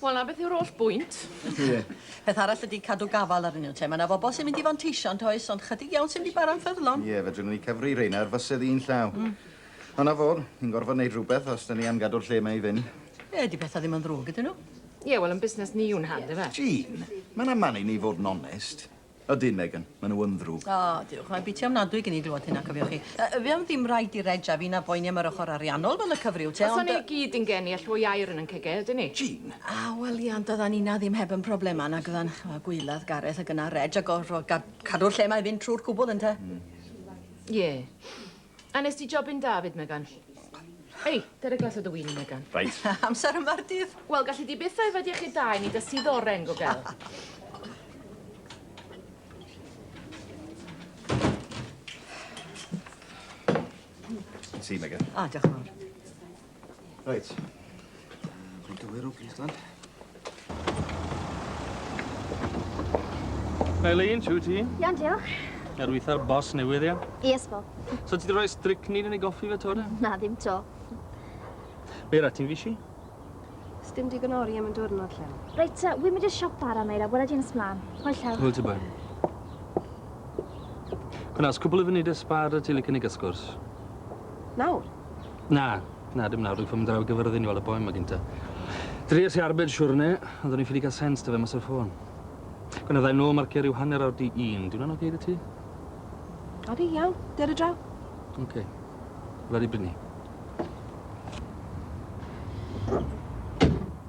Wel 'na beth yw'r holl bwynt. Ie. Peth arall ydi cadw gafal arnyn nhw te. Ma' 'na fobol sy'n mynd i fanteisio yntoes ond chydig iawn sy'n mynd i bara'n ffyddlon. Ie fedrwn ni cyfri reina ar fysedd un llaw. Hmm. Ond 'na fo, ni'n gorfod neud rwbeth os 'dan ni am gadw'r lle 'ma i fynd. Ie, 'di petha ddim yn ddrwg ydyn nhw? Ie wel yn busnes ni yw nhad yfe? Jean, ma'n amal i ni fod yn onest. Ydyn, Megan. Maen nhw yn ddrwg. O, diolch. Mae'n biti ofnadwy gen i glywed hynna, cofiwch chi. Yy, fe am ddim rhaid i Reg a fi na boeni am yr ochr ariannol fel y cyfryw te, ond... Os o'n ni i gyd yn geni, all fwy o air yn yn cegau, ydyn ni? Jean! A, wel, ie, ond doeddan ni 'na ddim heb yn problemau nag oeddan, ch'mo', gwaelod Gareth ag yna Reg a gorfod gad- cadw'r lle 'ma i fynd trwy'r cwbl, ynte? Mm. Ie. A nes di jobyn da fyd, Megan. Ei, dere glas o dy win i, Megan. Reit. Amser yma'r dydd. Wel, galli di byth yfed iechyd da i ni da sydd oren, gogel. Ti, Megan. O, diolch yn fawr. Reit. Dwi'n dywir o gyd, lan. Eileen, siw ti? Iawn, diolch. Ar weitha'r bos newydd, ia? Yes, Bob. So ti wedi rhoi strycnid yn ei goffi fe to, de? Na, ddim to. Meira, ti'n fisi? Sdim digon ori am yn diwrnod, lle. Reit, ta, wy'n mynd i'r siop bara, Meira, wela di'n ysmlaen. Hwyl llaw. Hwyl ti bain. Gwnas, cwbl i fyny dy sbar y ti licen i gysgwrs. Nawr? Na, na, dim nawr, dwi'n ffilm draw i gyfyrddin i weld y boi ma gynta. Dries i arbed siwrne, ond o'n i'n ffili cael sens dy fe mas o'r ffôn. Gwna ddau nôl marcio rhyw hanner awr di un, di hwnna'n oce okay dy ti? Odi, iawn, der y draw. Oce, okay. wlad i brynu.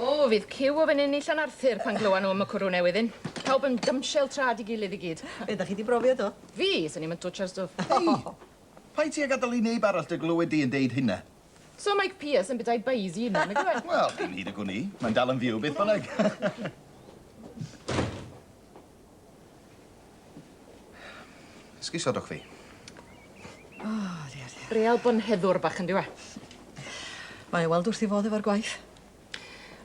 O, fydd ciw o fenyn i Llanarthur pan glywa nhw am y cwrw newydd hyn. Pawb yn dymshel trad i gilydd i gyd. Be, 'da chi 'di brofio do? Fi? Swn i'm yn twtshar stwff. Hei! Paid ti a gadal i neb arall dy glywed di yn deud hynna. So Mike Pierce yn bydau beis i hunan, nagyw e? Wel, dim hyd y gwn i. Mae'n dal yn fyw beth bynnag. Esgusodwch sodwch fi. O, oh, dear, dear. Real bonheddwr bach yn diwa. Mae e weld wrth i fodd efo'r gwaith.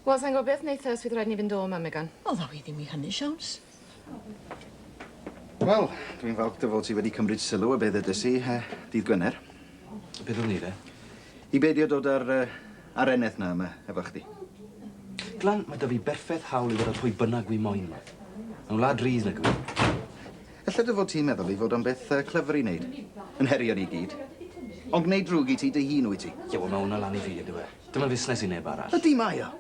Wel, sa'n gwybod beth wneitha os fydd rhaid ni fynd o yma, Megan. O, ddaw i ddim i hynny, Siawns. Wel, dwi'n falch dy fod ti wedi cymryd sylw a beth ydys i, uh, dydd Gwener. Beth o'n i, de? I beidio dod ar uh, A'r eneth 'na yma efo chdi. Glan, mae 'da fi berffeth hawl i fod â phwy bynnag wi moyn 'ma. Mae'n wlad rydd nag yw e? Ella dy fod ti'n meddwl ei fod o'n beth yy clyfr i neud, yn herio ni i gyd. Ond gneud drwg i ti dy hun wyt ti. Ie, wel ma' hwnna lan i fi ydyw e? Dim yn fusnes i neb arall. Ydy mae o.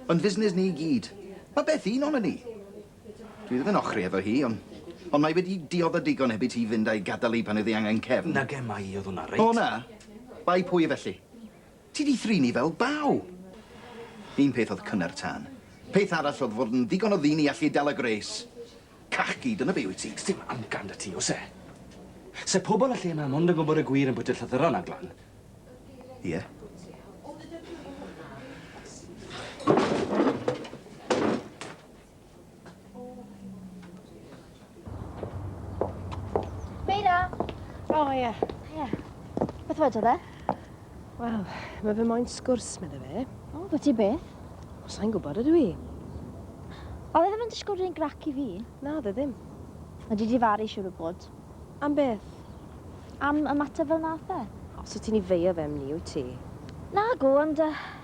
Mae'n fusnes ni i gyd. Ma' Beth un onon ni. Dwi ddim yn ochri efo hi on- ond mae wedi diodda digon heb i ti fynd a'i gadal hi pan oedd hi angen cefn. Nage, mae 'i, oedd hwnna reit. O na! Bai pwy felly. Ti 'di thrini fel baw! Un peth oedd cynnar tân. Peth arall oedd fod yn ddigon o ddyn i allu dala gwres. Cachgi, dyna be' wyt ti. Sdim amcan 'da ti, oes e? Se pobl y lle 'ma mond yn gwybod y gwir am bwyta llythyron a glan. Ie. Meira! O, oh, ie. Yeah. Ie. Yeah. Beth wedodd e? Wel, mae fe moyn sgwrs, meddwl fe. O, oh, ti beth? O, sa'n gwybod ydw i. Oedd e ddim yn disgwyl rhywun grac i fi? Na, dde ddim. Mae di difaru, siwr o bod. Am beth? Am y mater fel nath e. Os wyt ti'n i feio fe am ni, wyt ti? Na, go, ond uh,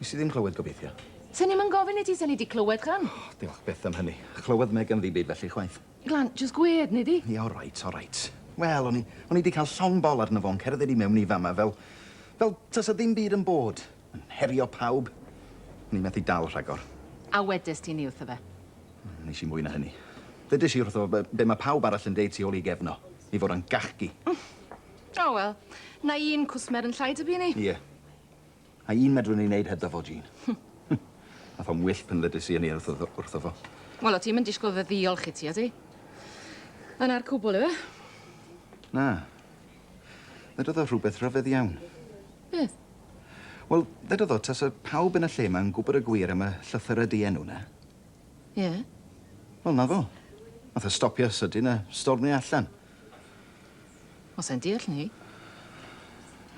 Nes i ddim clywed, gobeithio. Swn i'm yn gofyn i ti, swn i 'di clywed, Glan. O, diolch byth am hynny. Chlywodd Megan ddim byd felly chwaith. Glan, jyst gwed, nei di. Ie, oreit, oreit. Wel, o'n i, o'n i 'di cael llond bol arno fo'n cerdded i mewn i fama fel, fel tasa ddim byd yn bod, yn herio pawb. O'n i methu dal rhagor. A wedes ti 'ny wrtho fe? Hmm, nes i mwy na hynny. Ddedes i wrtho fo be' ma' pawb arall yn deud tu ôl i gefn o, ei fod o'n gachgi. O wel, 'na un cwsmer yn llai dyb'u ni. Ie. A un medrwn ni wneud hebddo fo, Jean. Ath o'n wyllt pan ddedais i hynny wrtho, wrtho fo. Wel, o ti'm yn disgwyl fy ddiolch i ti, o ti? Yna'r cwbl yw e? Na. Ddedodd o rhywbeth rhyfedd iawn. Beth? Wel, ddedodd o tasa pawb yn y lle ma'n gwybod y gwir am y llythyrau dienw na. Ie? Yeah. Wel, na fo. Nath o stopio sydyn a stormio allan. Wel, sai'n deall 'ny.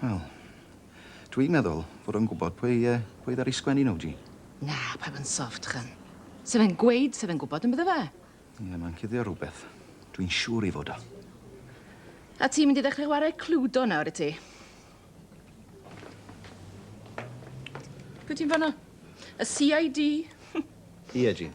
Wel, dwi'n meddwl fod o'n gwbod pwy yy pwy ddaru sgwennu nhw, Jean. Na, paid yn soft, Jyn. Sa fe'n gweud sa fe'n gwbod yn bydde fe? Ie, ma'n cuddio rwbeth. Dwi'n siŵr 'i fod o. A ti'n mynd i ddechre chwarae Cluedo nawr, wyt ti? Pwy ti'n fano? Y CID? Ie, Jean.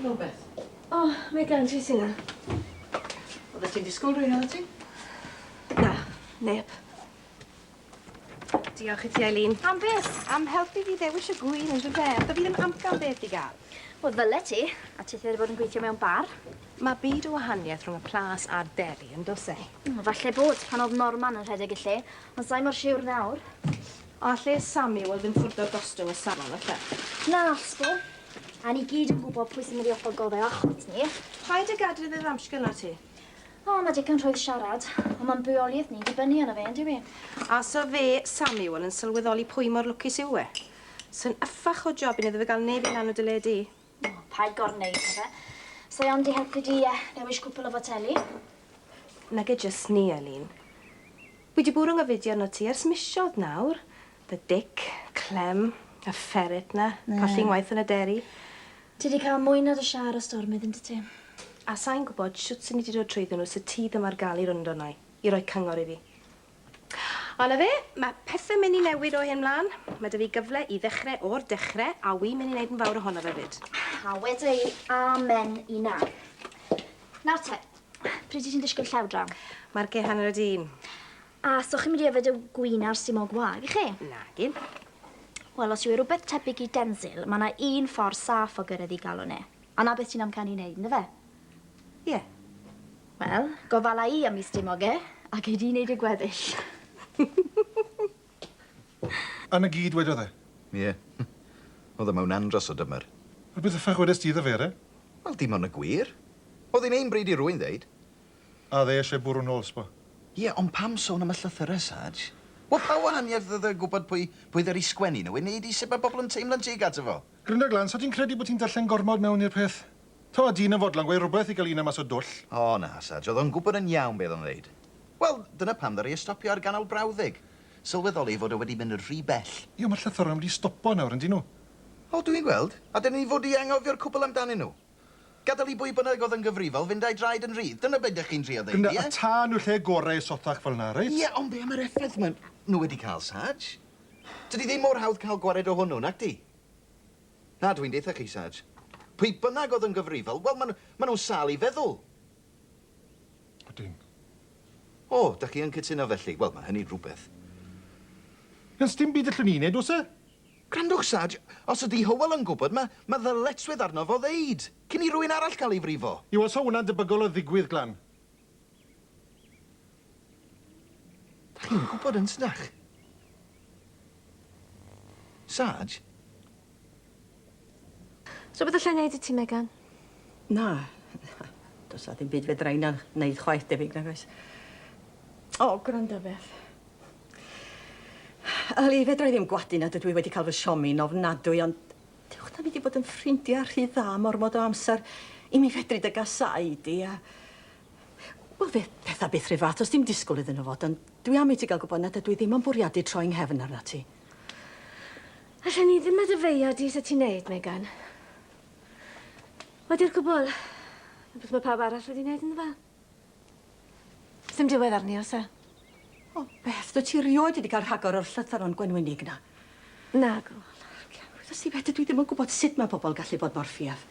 Rhywbeth. O, oh, mae gan ti sy'n yna. Oedde ti'n disgwyl rwy'n oedde ti? Na, neb. Diolch i ti, Eileen. Am beth? Am helpu fi ddewis y gwyn yn rhywbeth. beth. Da fi ddim amcan beth i gael. Wel, ddyle ti, a ti wedi bod yn gweithio mewn bar. Mae byd o wahaniaeth rhwng y plas a'r deli yn dos e. Falle bod pan oedd Norman yn rhedeg y lle, ond sa'i mor siwr nawr. A lle Sami? Wel ddim ffwrdd o'r gostwng o Sam am y ffeff. Na, sbo. A ni gyd yn gwbo pwy sy'n mynd i offo'r goddau achos ni. Paid a gadel iddo ddamsgynno ti. O, ma digon rhwydd siarad. Ond ma'n bywoliaeth ni'n dibynnu arno fe, yndyw 'i? A so fe, Sami, wel yn sylweddoli pwy mor lwcus yw e. Sa'n yffach o job i ni iddo fe ga'l neb i lan o dy le di. O, paid gorneud na fe. Sa iawn di helpu di a newis cwpl o foteli? Nage jyst ni, Eileen. Wi di bwrw nghyfuddi arnot ti ers misodd nawr. Dy dic, Clem, a ferret na, colli ngwaith yn y deri. Ti di cael mwy na dy shar o stormydd yndwt ti. A sai'n gwbod shwt swn i di dod trwyddyn nhw se ti ddim ar gael i rwnd arna i, i roi cyngor i fi. A 'na fe, ma' pethe myn' i newid o hyn mlan. Ma' 'dy fi gyfle i ddechre o'r dechre, a wi myn' i neud yn fawr ohono fe 'fyd. A weda i, Amen i 'na. Nawr te, pryd wyt ti'n disgwyl llaw draw? Marcie hanner o' di. A so chi'n mynd i yfed y gŵyn a'r simog wag, y'ch chi? Nagin. Wel, os yw e rwbeth tebyg i Denzil, ma' 'na un ffor saff o gyrredd 'i galon e. A 'na beth ti'n amcanu 'i neud, yndyfe? Ie. Wel, gofala i am mis dim oge, a gei di neud y gweddill. A 'na gyd wedodd e? Ie. O'dd e mewn andros o dymer. A be the fuck wedes ti iddo fe, Eren? Wel, dim ond y gwir. O'dd 'i'n hen bryd i rywun ddeud. A o'dd e isie bwrw nôl, sbo. Ie, ond pam sôn am y llythyre, Sarge? Wel, pa wahaniaeth o'dd e gwbod pwy pwy ddaru sgwennu nhw i neud i sut ma' pobl yn teimlo'n tuag ato fo? Gryndaglan, so ti'n credu bo' ti'n darllen gormod mewn i'r peth? Taw'r dyn yn fodlon gweud rhywbeth i gael un am mas o dwll. O na, Sarge, oedd o'n gwybod yn iawn beth oedd o'n ddweud. Wel, dyna pam ddaru e stopio ar ganol brawddeg. Sylweddoli ei fod o wedi mynd rhy bell. Ie, ond mae'r llythyrau wedi stopo nawr, yn dyn nhw? O, dwi'n gweld. A dyna ni fod i anghofio'r cwbl amdanyn nhw. Gadael i bwy bynnag oedd yn gyfrifol fynd â'i draed yn rhydd, dyna be' 'dych chi'n trio ddeud, ie? Gwna y tân yw'r lle gorau i sothach fel 'na, reit? Ie, ond be' am yr effaith maen nhw wedi cael, Sarge? Tydi ddim mor hawdd cael gwared o hwnnw, nacdi? Na, dwi'n deutha chi, Sarj. Pwy bynnag oedd yn gyfrifol, wel, ma' ma' nhw'n sâl i feddwl. Ydyn. O, dach chi yn cytuno felly? Wel, ma' hynny'n rhywbeth. Wel, sdim byd allwn ni wneud, oes e? Gwrandwch, Sarj, os ydy Hywel yn gwybod, ma' ma' ddyletswydd arno fo ddeud, cyn i rywun arall cael ei frifo. Yw, os 'o hwnna'n debygol o ddigwydd, Glan? Dach chi'n gwybod yn tydach? Sarge? Rhywbeth allai wneud i ti, Megan? Na. Does na ddim byd fedra i na wneud chwaith debyg, nag oes? O, gwrando, Beth. Yli, fedra i ddim gwadu nad ydw i wedi cael fy siomi'n ofnadwy, ond Dywch 'da ni 'di bod yn ffrindia rhy dda am ormod o amser i mi fedru dy gasáu di a... Wel fe fetha byth rhyw fath o sdim disgwl iddyn nhw fod ond dwi am i ti gael gwbod nad ydw i ddim am fwriadu troi 'nghefn arnat ti. Allen i ddim meddefeuo di sut ti'n neud, Megan. Wedi'r cwbwl, rhywbeth ma' pawb arall wedi neud ynddo fe. Sdim diwedd arni, oes e? O, Beth, dwyt ti rioed wedi cael rhagor o'r llythyron gwenwynig 'na? Nag o. Wyddost ti beth, dydw i ddim yn gwybod sut mae pobl yn gallu bod mor ffiaf.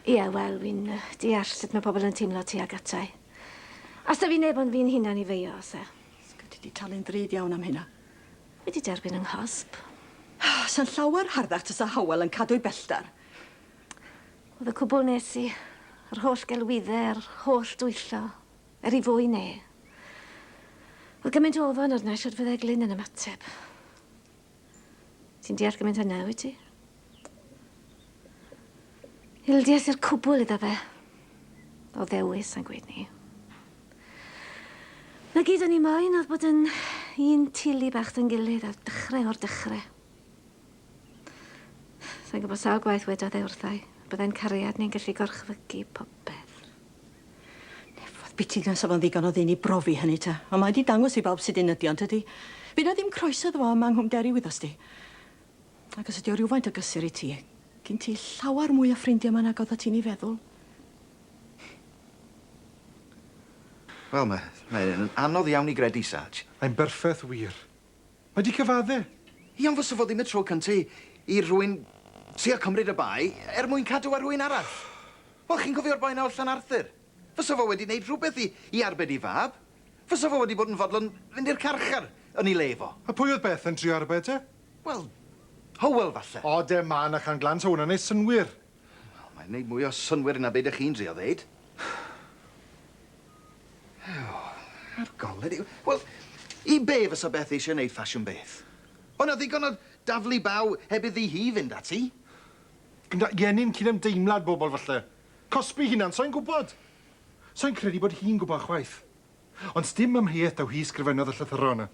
Ie, wel, fi'n yy, deall sut mae pobl yn teimlo tuag ata i. Os da fi neb ond fi'n hunan i feio, oes e? Sgwt ti 'di talu'n ddrud iawn am hynna. Fi 'di derbyn 'y nghosb. Sa'n llawer harddach tasa Howell yn cadw'i bellter. Oedd y cwbl nes i, yr holl gelwydde, yr holl dwyllo, er i fwy ne. Oedd gymaint o ofon arna i shwd fydde Glyn yn ymateb. Ti'n deall gymaint hynna, wyt ti? Ildies i'r cwbl iddo fe. O ddewis, sa'n gweud ni. Na gyd o'n i moyn oedd bod yn un tili bach dyn gilydd ar dechrau o'r dechrau. Sa'n gwybod sawl gwaith wedodd e wrtha i, byddai'n cariad ni'n gallu gorchfygu popeth. Nefodd biti nes o'dd o'n ddigon o ddyn i brofi hynny ta, ond mae 'di dangos i bawb sud un ydi o, yntydi? By' 'na ddim croeso iddo fo yma yng Nghwm Derry wyddost ti. Ac os ydi o rywfaint o gysur i ti, gin ti llawer mwy o ffrindia yma nag odda ti'n 'u feddwl. Wel, ma- mae yn anodd iawn i gredu, Sarge. Mae'n berffeth wir. Mae 'di cyfadde. Iawn fysa fo ddim y tro cynta i i rhywun trio cymryd y bai er mwyn cadw ar rhywun arall. Wel, chi'n cofio'r boi 'na o Llanarthur? Fysa fo wedi neud rhywbeth i i arbed 'i fab. Fysa fo wedi bod yn fodlon fynd i'r carchar yn 'i le fo. A pwy oedd Beth yn trio arbed e? Wel, Hywel falle. Ode, ma' 'na can glan ta wnna'n neud synnwyr. Wel, mae'n neud mwy o synnwyr na be' dych chi'n drio ddeud. Ew, ar golled i. Wel, i be' fysa Beth eisiau neud ffasiwn beth? O' 'na ddigon o daflu baw heb iddi hi fynd ati. Gyda gennin cydymdeimlad bobl falle. Cosbi hunan, sai'n gwbod. Sai'n credu bod hi'n gwbod chwaith. Ond sdim amheuaeth taw hi sgrifennodd y llythyra yna.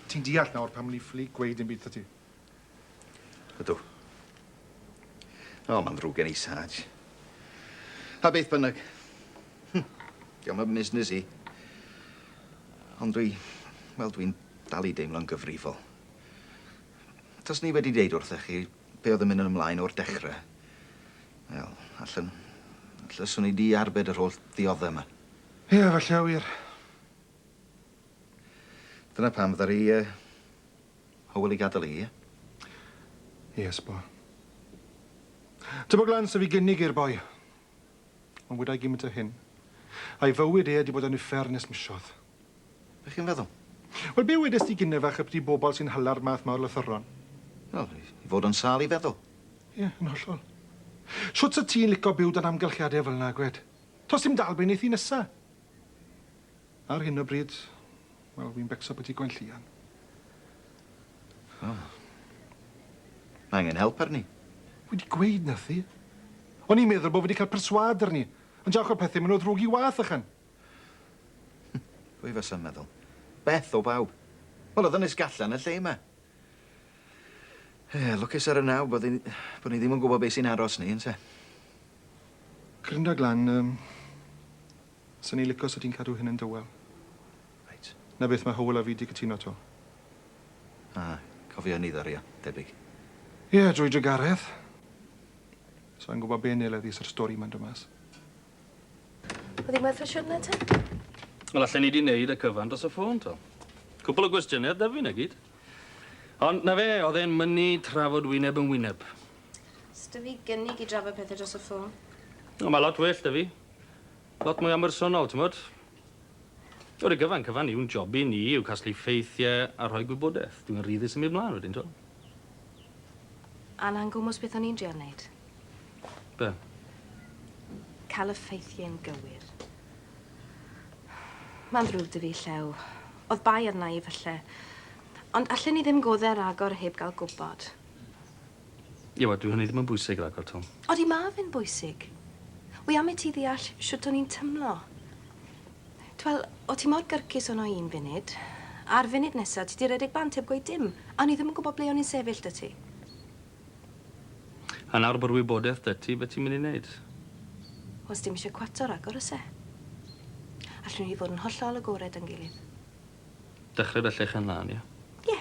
Ti'n deall nawr pam o'n i ffili gweud dim byd 'tha ti. Ydw. O, mae'n ddrwg gen i, Sarge. A beth bynnag. Hm, diolch yn busnes i. Ond dwi... Wel, dwi'n dal i deimlo'n gyfrifol. Tos ni wedi deud wrthych chi be oedd yn mynd yn ymlaen o'r dechrau. Wel, allan... Alla swn i di arbed yr holl ddioddau yma. Ie, falle wir. Dyna pam fydda i... Hywel i gadel i. Ie, sbo. Tybog lan sef i gynnig i'r boi. Ond wydai gymint o hyn. A'i fywyd e 'di bod yn uffern nes misodd. Be' chi'n feddwl? Wel, be' wedes di gynne fach y byti bobol sy'n hala'r math 'ma o lythyron? Wel, i fod yn sâl i feddwl. Ie, yn hollol. Shwt sa ti'n lico byw dan amgylchiade fel 'na, gwed? To's dim dalbeun neith i nesa. Ar hyn o bryd, wel, fi'n becso byti Gwenllian. Wel, mae angen help arni. Wi 'di gweud nathi. O'n i'n meddwl bo' fi 'di ca'l perswâd arni, ond jawch o pethe, ma' nw ddrwg i wath, ychan. Pwy fasa'n meddwl? Beth o bawb? Wel, o'dd Ynys Gallan yn y lle 'ma. Ie, lwcus ar y naw bod ni bod ni ddim yn gwbo be' sy'n aros ni, ynte? Grinda Glan, yym, Sa ni'n lico sa ti'n cadw hyn yn dywel. Reit. 'Na beth, mae Hywel a fi 'di cytuno 'to. A cofio ni ddario, debyg. Ie, drwy dy garedd. Sa i'n gwybod be wnei leddi sa'r stori 'ma'n dod mas. Oedd hi'n werth y siwrne te? Wel, allen ni 'di neud y cyfan dros y ffôn, t'o'. Cwpwl o gwestiyne ar Dyfi, 'na gyd. Ond 'na fe, o'dd e'n mynnu trafod wyneb yn wyneb. S'da fi gynnig i drafod pethe dros y ffôn. O, ma' lot well 'da fi. Lot mwy ambersonol, t'mod? Ar y gyfan cyfan yw'n job i ni yw casglu ffeithie a rhoi gwybodeth. Dw i'n rhyddus yn mynd mlan wedyn, t'mo'? Alan gwmws beth o'n i'n drial neud. Be? Ca'l y ffeithie'n gywir. Ma'n ddrwg 'da fi, Llew. O'dd bai arna i, falle. Ond allen i ddim godde ragor heb ga'l gwbod. Iwa, dyw hynny ddim yn bwysig ragor, Tom. Odi ma fe'n bwysig. Wi am i ti ddeall shwt o'n i'n tymlo. T'wel, o' ti mor gyrcus ono i un funud, a'r funud nesa ti 'di redeg bant heb gweud dim, a o'n i ddim yn gwbo ble o'n i'n sefyll 'da ti. A nawr bo'r wybodeth 'da ti, be' ti'n myn' i neud? Wel, sdim isie cwato ragor, o's e? Allwn ni fod yn hollol agored da'n gilydd. Dechre 'da llechen lân, ie? Ie.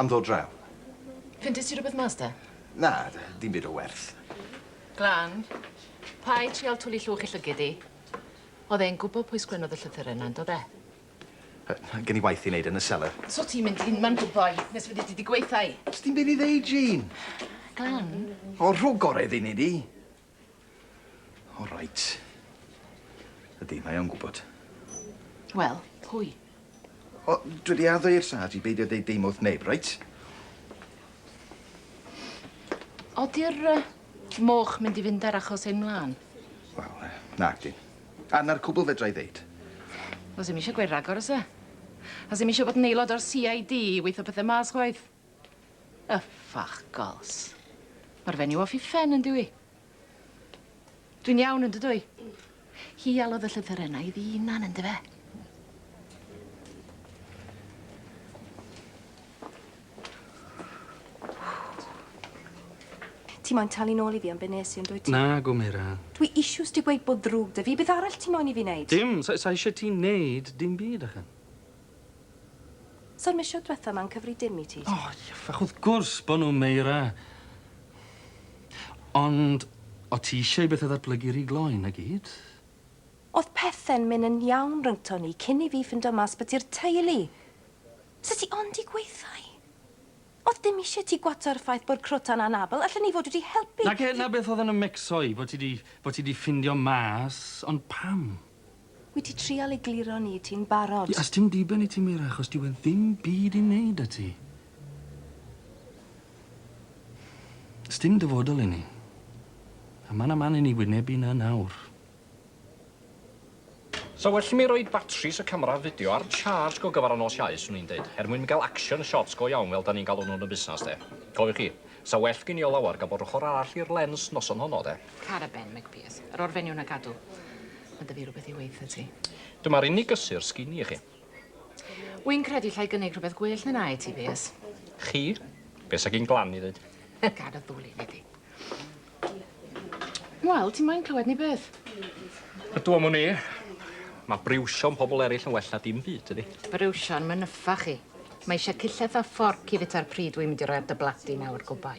Am ddod draw. Ffeindies ti rwbeth mas 'da? Na, dim byd o werth. Glan, paid trial twli llwch i llygid i. O'dd e'n gwbo pwy sgwennodd y llythyre 'na, yndo fe? Yy, gen i waith i neud yn y selar. So ti'n mynd unman gwmpo'i nes fyddi di 'di gweitha i? Sdim byd i ddeud, Jane. Glan. O, rho gore iddi, nei di. O reit. Ydi, mae o'n gwbod. Wel, pwy? O, dwi 'di addo i'r sarge i beidio deud dim wrth neb, reit? Odi'r yy moch mynd i fynd ar achos ein mlan? Wel, yy, nag 'di. A 'na'r cwbwl fedra i ddeud. Do's 'im isio gweud ragor, o's e? A 's'im isio bod yn aelod o'r See I Dee i weitho pethe mas chwaith. Y ffwc gols. Ma'r fenyw off 'i phen yndyw 'i? Dwi'n iawn yndydw i? Hi alwodd y llythyrenna iddi 'i unan yndyfe? Ti moyn talu nôl i fi am be nes i yndwyt? Nag o Meran. Dwi isws ti gweud bod ddrwg 'da fi, beth arall ti moyn i fi neud? Dim, sa- sa isie ti neud dim byd achan. So'r missiwn dwetha ma'n cyfri dim i ti? O iafach wrth gwrs bo nw Meira. Ond o ti isio i bethe ddatblygu ry gloi na gyd? O'dd pethe'n myn yn iawn rhyngto ni cyn i fi ffindo mas bo ti'r teulu! Sa ti ond i gweithau! O'dd dim isie ti gwato'r ffaith bo'r crota'n anabl, allen i fod wedi helpu! Nage na beth o'dd yn y mecso i bo ti di bo ti di ffindio mas ond pam? Wyt ti trial egluro ni ti'n barod? Ie a sdim diben i ti Meira achos dyw e ddim byd i neud a ti. Sdim dyfodol i ni. A ma' na man i ni wynebu na nawr. Sa well i mi roid batris y camera fideo ar charge go gyfar y nos Iau swn i'n deud, er mwyn gael action shots go iawn fel dan ni'n galw nhw yn y busnas de. Cofiwch chi, sa well gin i o lawar gael bod yr ochr arall i'r lens noson honno de. Cara Ben, Meg Pearce. Yr orfeiniwn a gadw. Mae dy fi rhywbeth i weitha ti. Dyma'r unig gysur sgini i chi. Wy'n credu llai gynnig rhywbeth gwell na na i ti, Piers. Chi? Be sa gin glan i ddweud? Gad o ddwl i fi Wel, ti moyn clywed ni beth? Ydw am wn i. Mae briwsio'n pobl eraill yn well na dim byd, ydy. Briwsio'n mynyffa chi. Mae eisiau cillell a fforc i fita'r pryd wy'n mynd i roi ar dy bladi nawr, gobai.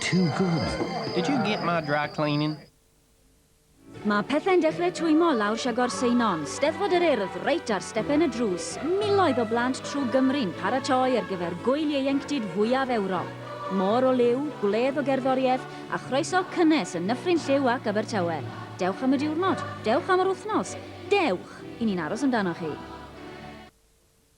Too good. Did you get my dry cleaning? Mae pethau'n dechrau twymo lawr Siagor Seinon, Steddfod yr Urdd, reit ar stepen y drws, miloedd o blant trwy Gymru'n paratoi ar gyfer Gwyl Ieuenctid fwyaf Ewrop. Môr o liw, gwledd o gerddoriaeth, a chroeso cynnes yn Nyffryn Lliw ac Abertawe. Dewch am y diwrnod, dewch am yr wythnos, dewch! I ni'n aros amdanoch chi.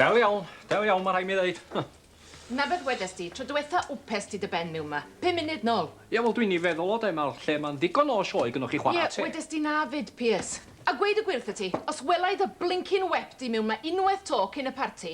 Del iawn, del iawn, ma' rhai' mi ddeud. Huh. Na beth wedes di, tro dwetha wpes ti dy ben miwn ma. Pum munud nol. Ie, wel dwi'n i feddwl o de, ma'r lle ma'n ddigon o sioe gynnoch chi chwara teg. Ie, wedes di na fyd, Piers. A gweud y gwir wrtha ti, os welai dy blincin wep di miwn ma unweth to cyn y parti,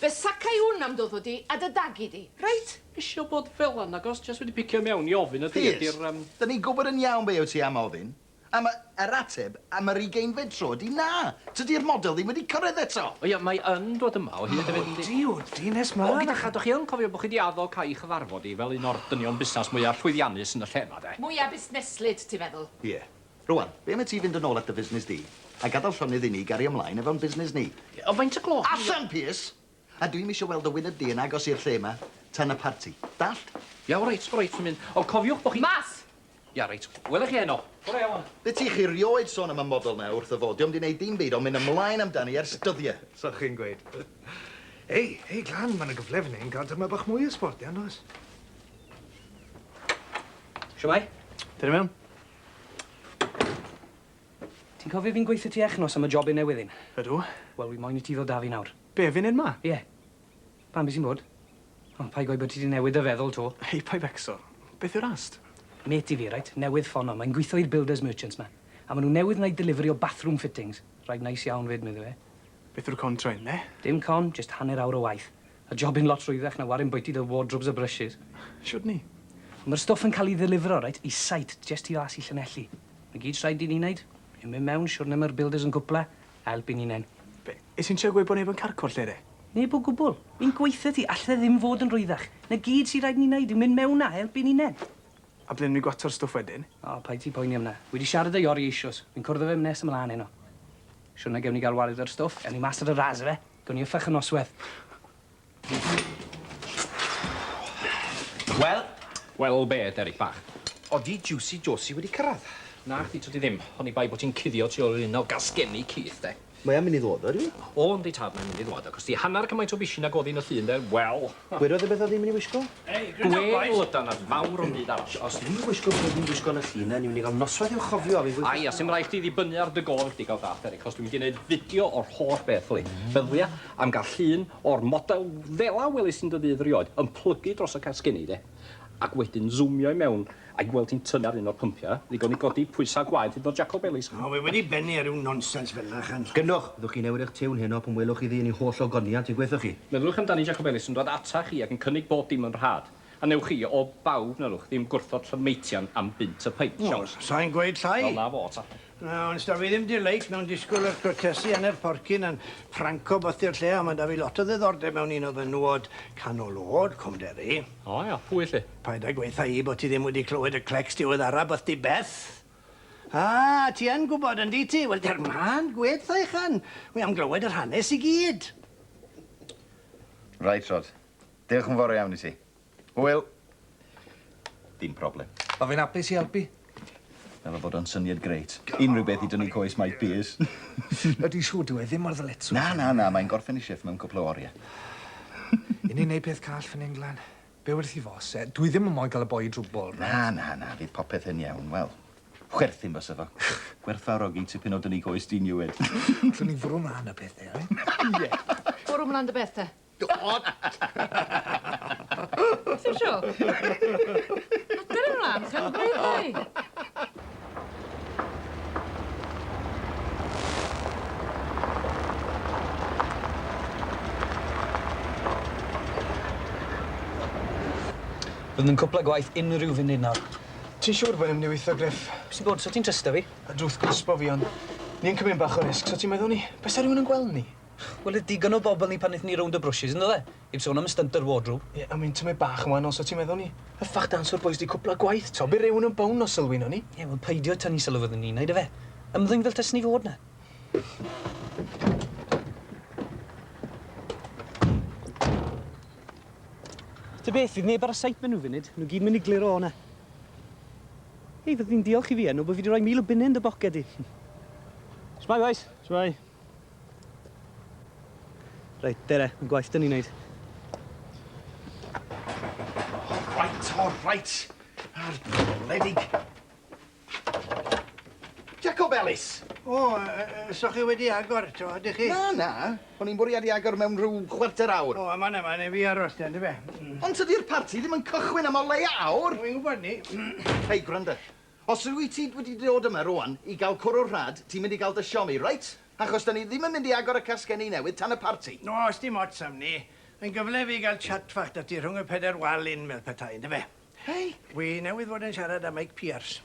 fe sacai wn am dy wddw di a dy dagu di. Reit? Isio bod fela nagos, jest wedi picio i mewn i ofyn a dwi ydi'r yym... Piers, 'da ni'n gwbod yn iawn be wyt ti am ofyn. A mae yr ateb am yr ugeinfed tro ydi na! Tydi'r model ddim wedi cyrraedd eto! O ia, mae yn dod yma o hyd hefyd yndi? O Duw, dyn nes mlaen! O gyda cha, dach chi yn cofio bod chi 'di addo cael 'i chyfarfod 'i fel un o'r dynion busnas mwya llwyddiannus yn y lle 'ma, de? Mwya busneslyd, ti'n feddwl? Ie. Rŵan, be' am i ti fynd yn ôl at dy fusnes di, a gadal llonydd i ni gario mlaen efo'n busnes ni? Ie, ond faint o gloch? Allan, Pierce! A dwi'm isio weld dy wyneb di yn agos i'r lle 'ma tan y parti. Dallt? Ia, reit, reit, dwi'n mynd. Ond cofiwch bo' chi... Mas! Ia, reit. Wela i chi heno. Bore iawn. Be' ti chi 'rioed sôn am y model 'na wrth y fo? Dio'm 'di neud dim byd ond mynd ymlaen amdani ers dyddie. Sa chi'n gweud. Hei, hei, Glan, ma' 'na gyfle fyn 'yn ga'l dyma bach mwy o sbort, ia, ndoes? Shwmai? Dere i mewn. Ti'n cofio fi'n gweutho ti echnos am y job un newydd un? Ydw. Wel, wi moyn i ti ddod 'da fi nawr. Be, funud 'ma? Ie. Pan fu ti'n bod. Ond paid gweud bod ti 'di newid dy feddwl 'to. Hei, paid becso. Beth yw'r ast? Mêt i fi, reit, newydd ffono. Mae'n gwitho i'r builders merchants 'ma. A ma' nhw newydd wneud delivery o bathroom fittings. Rhaid neis iawn 'fyd, medde fe. Beth yw'r con trên, ne? Dim con, jyst hanner awr o waith. A jobyn lot rhwyddach na warin bwyty dy wardrobes a brushes. Shwd 'ny? Wel, ma'r stwff yn cael 'i ddelifero, reit, i site, jest tu fas i Llanelli. 'Na gyd sy' rhaid i ni 'neud. Ymyn mewn, siwrne ma'r builders yn cwpla, Help i ni nen. Be? Is hi'n trio gweud bod neb yn carco'r lle de? Neb o gwbl. Fi'n gweutho ti, all e ddim fod yn rwyddach. Na gyd sy raid ni neud yw mynd mewn a help i ni nen. A ble newn ni gwato'r stwff wedyn? O, paid ti poeni am na. Wi di siarad â Iori eishoes. Fi'n cwrdd â fe m- nes ymlan heno. Siwrna gewn ni ga'l wared o'r stwff. Ewn ni mas ar y ras ife? Gewn ni yffach y nosweth. Wel? Wel be, Derek bach? Odi Jiwsi Josi wedi cyrradd? Na chdi, tydi ddim. Oni bai bod ti'n cuddio tu ôl i'r un o gasgenni Keith, de. Mae o'n mynd i ddod ddo, ydyw? O, yndi tad, mae'n mynd i ddod. Ac os di hanner cymaint o bishyn ag o'dd hi yn y llun, de, wel! Gwedodd e beth oedd hi'n mynd i wisgo? Ei, good job, bois! Gwell ydan na fawr o'm byd arall. Os dwi'n gwisgo be dwi'n gwisgo yn y llun 'na, ni'n mynd i gael noswaith i'w chofio, a fi'n gweud... Aia, sim raid chdi ddibynnu ar dy gofn chdi, ga'l dallt, Derek, achos dwi'n mynd i neud fideo o'r holl beth, yli. Meddwia. Am gael llun o'r model fela welais yn dy ddydd rioed, yn plygu dros y casgenni de, ac wedyn zoomio i mewn a'i gweld hi'n tynnu ar un o'r pympiau, ddigon i godi pwysau gwaed hyd yn oed Jaco Bellies. O, wi wedi bennu ar ryw nonsens fel 'na, chan. Gynnwch! Fyddwch chi'n newid eich tiwn heno pan welwch iddi yn ei holl ogoniant, ei gwelwch chi? Meddyliwch amdani Jaco Bellies yn dod ata chi ac yn cynnig bob dim yn rhad, a newch chi, o bawb, na ddowch, ddim gwrthod Llanmeitian am bunt y peint, siawns. O, sa i'n gweud llai! Wel, 'na fo ta. Na, ond 'sda fi ddim delight mewn disgwyl yr crotesu ane'r porcyn a'n ffranc o bythi'r lle, ond ma' 'da fi lot o ddiddordeb mewn un o fenywod canol o'd, Cwm Derry. O ia, pwy 'lly? Paid â gweutha i bo' ti ddim wedi clywed y clecs diweddara bythdi Beth. A, ti yn gwbod, yndi ti? Wel, der mân, gwed 'tha uchan. Wi am glywed yr hanes i gyd. Reit, Rod. Diolch yn fawr iawn i ti. Hwyl. Dim problem. Wel, fi'n apus i elpu. Meddwl bod o'n syniad grêt. Unrhyw beth i dynnu coes Mike Pearce. Yy, dwi'n siŵr dyw e ddim mor ddyletswydd. Na, na, na, mae'n gorffen 'i shiff mewn cwpl o orie. 'Yn ni'n neud peth call fyn 'yn, Glan. Be' wrth 'i fos e? Dwi ddim yn moyn ca'l y boi i drwbwl, reit? Na, na, na, fydd popeth yn iawn. Wel, chwerthin fysa fo. Gwerthfawrogi tipyn o dynnu coes ti'n Ieued. Allwn ni fwrw mlan â pethe, reit? Ie. Bwrw mlan dy beth te. O! Beth yw'r show? Adar yn lan, chefn gwledd ddoe! Fydd yn cwpla gwaith unrhyw funud nawr. Ti'n siŵr bo' 'im myn' i witho Griff? Pwy sy bod? So ti'n trysto fi? Y drwth crispo fi on' ni yn cymyn bach o risg so ti'n meddwl ni bysa rywun yn gwel' ni? Wel oedd digon o bobl ni pan nethon ni rownd y brwshys yn do e? Heb sôn am y stunt yr wardrobe. Ie ond fi'n tymud bach yn wahanol so ti'n meddwl ni hyffach dance o'r bois di cwpla gwaith t'o' by' rywun yn bownd os sylwi nown ni. Ie wel peidio tynnu sylw fyddwn ni'n neud yfe? Ymddwyn fel tyswn i fod na. Ta beth fydd neb ar y site ma' nw funud ma' nw gyd myn i gliro o na. Hei fyddwn i'n diolch i fi Enw bo fi di roi mil o bunne yn dy boced di. Shwmai bois. Shwmai. Reit, dere, mae'n gwaith dyn ni'n neud. Right, o, oh, right. Ar bledig. Jacob Ellis! O, oh, uh, so chi wedi agor, to, ydych chi? Na, na. O'n i'n bwriadu agor mewn rhyw chwarter awr. O, oh, yma, yma, neu fi aros ten, fe. Mm. Ond tydi'r parti ddim yn cychwyn am o leia awr. Wy'n gwybod ni. Hei, gwranda. Os wyt ti wedi dod yma rwan i gael cwrw rhad, ti'n mynd i gael dy siomi, reit? Achos 'da ni ddim yn mynd i agor y casgenni newydd tan y parti. Oes dim ots am 'ny. Mae'n gyfle i fi gael chat fach 'da ti rhwng y pedair wal in fel petai, yndyfe? Hei! Wi newydd fod yn siarad â Mike Pierce.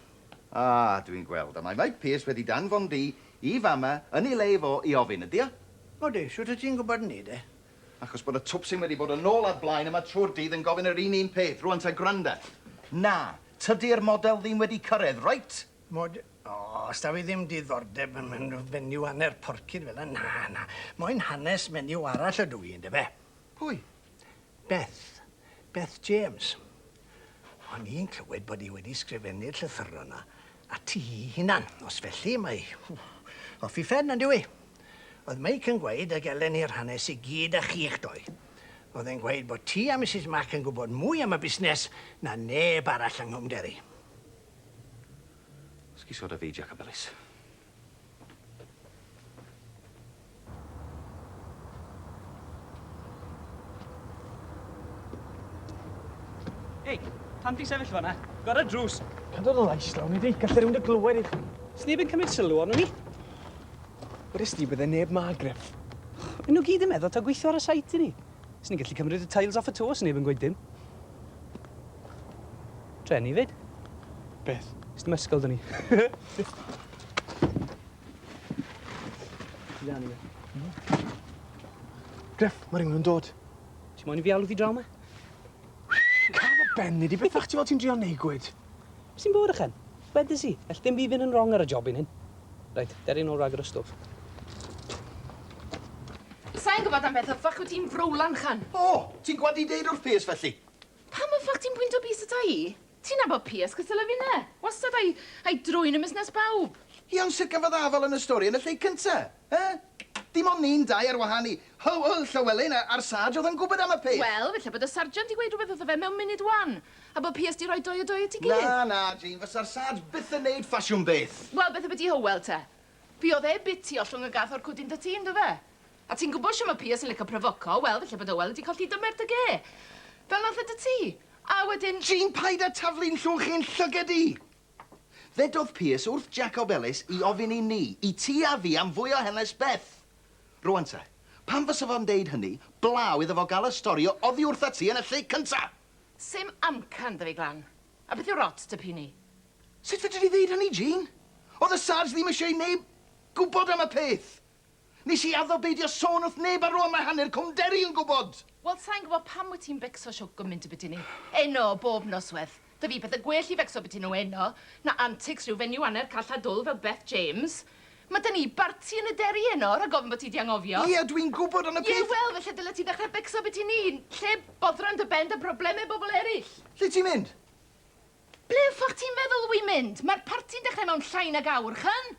A, dwi'n gweld. A mae Mike Pierce wedi danfon di i fama yn ei le fo i ofyn, ydio? Odi, shwt wyt ti'n gwybod 'ny de? Achos bod y twpsyn wedi bod yn ôl a blaen yma trwy'r dydd yn gofyn yr un un peth. Rwan ta gwranda. Na, Tydi'r model ddim wedi cyrraedd, reit? Mod- O, os daw i ddim diddordeb yn yn fenyw hanner porcyn fel 'na, na, na. Moyn hanes menyw arall ydw i, yndyfe? Pwy? Beth. Beth James. O'n i'n clywed bod hi wedi sgrifennu'r llythyron 'na. A ti'i hunan, os felly, mae off i phen, on'd yw 'i? Oedd Meic yn gweud y gelen ni'r hanes i gyd â chi'ch doi. Oedd e'n gweud bod ti a Misus Mac yn gwybod mwy am y busnes na neb arall yng Nghwm Gerri. Sgîsoda fi, Jac Ap Ellis. Hei, pan ti'n sefyll fanna, gor y drws. Can dod o lais lawn i di, gallai rhywun dy glywed i chi. Sneb yn cymryd sylw ond ni. Wrys di, bydde neb ma, Griff. Yn nhw gyd yn meddwl ta gweithio ar y sait i ni. Swn i'n gallu cymryd y tiles off y to os neb yn gweud dim. Treni i fyd. Beth? Ys dim ysgol dyn ni. Griff, mae rhywun yn dod. Ti moyn i fi alw fi draw ma? Can y ben, nid i bethach ti fel ti'n drio neud gwyd. Sy'n bod ychen? Wedes i, ell dim byd fynd yn rong ar y jobyn hyn. Reit, der i nôl rhag yr ystwth. Sai'n gwbod am beth y ffyc wyt ti'n frowlan, Chan. O! Ti'n gwbod i deud wrth Piers felly? Pam y ffyc ti'n pwynto bys ata i? Ti'n nabod Piers cystal a finne. Wastad a'i a'i drwyn yn musnes bawb. Iawn, sut gafodd afal yn y stori yn y lle cynta? Yy, dim ond ni'n dau ar wahân i Huw, yy, Llywelyn a- a'r Sarge oedd yn gwybod am y peth! Wel, falle bod y Sarjant 'di gweud rhywbeth wrtho fe mewn munud wan, a bod Piers 'di rhoi dou a dou at ei gilydd. Na, na, Jane, fasa'r Sarge byth yn neud ffasiwn beth! Wel, beth ambyti Hywel te? Fuodd e bit tu ollwng y gath o'r cwdyn 'da ti, yndofe? A ti'n gwybod shwt mae Piers yn lico profoco, wel, falle bod Hywel wedi colli dymer dy ge. Fel nath e 'da ti. A wedyn... Jane, paid â taflu'n llwch i'n llyged i! Ddedodd Pearse wrth Jacob Ellis i ofyn i ni, i ti a fi, am fwy o hanes Beth. Rŵan te, pam fysa fo'n deud hynny, blaw iddo fo gael y stori o oddi wrtha ti yn y lle cynta? Sim amcan 'da fi, Glan. A beth yw'r ots 'da Pini? Sut fedri di ddeud hynny, Jane? Oedd y Sarge ddim eisiau i neb gwybod am y peth! Nes i addo beidio sôn wrth neb a rŵan mae hanner Cwm Derry yn gwbod! Wel, sai'n gwbod pam wyt ti'n becso show gymint y byti ni. Eno, bob nosweth. Da fi pethe gwell i fecso byti nhw eno na antics rhyw fenyw anner call a dwl fel Beth James. Ma da ni barti yn y Derry eno, rhag ofn bo ti di anghofio. Ie, dw i'n gwbod ond y peth... Ie, wel, felly dylet ti ddechre becso byti ni, lle boddran dy ben da brobleme bobl eryll. Lle ti'n mynd? Ble y ffwc ti'n feddwl wy'n mynd? Mae'r parti'n dechrau mewn llai nag awr, ch'en?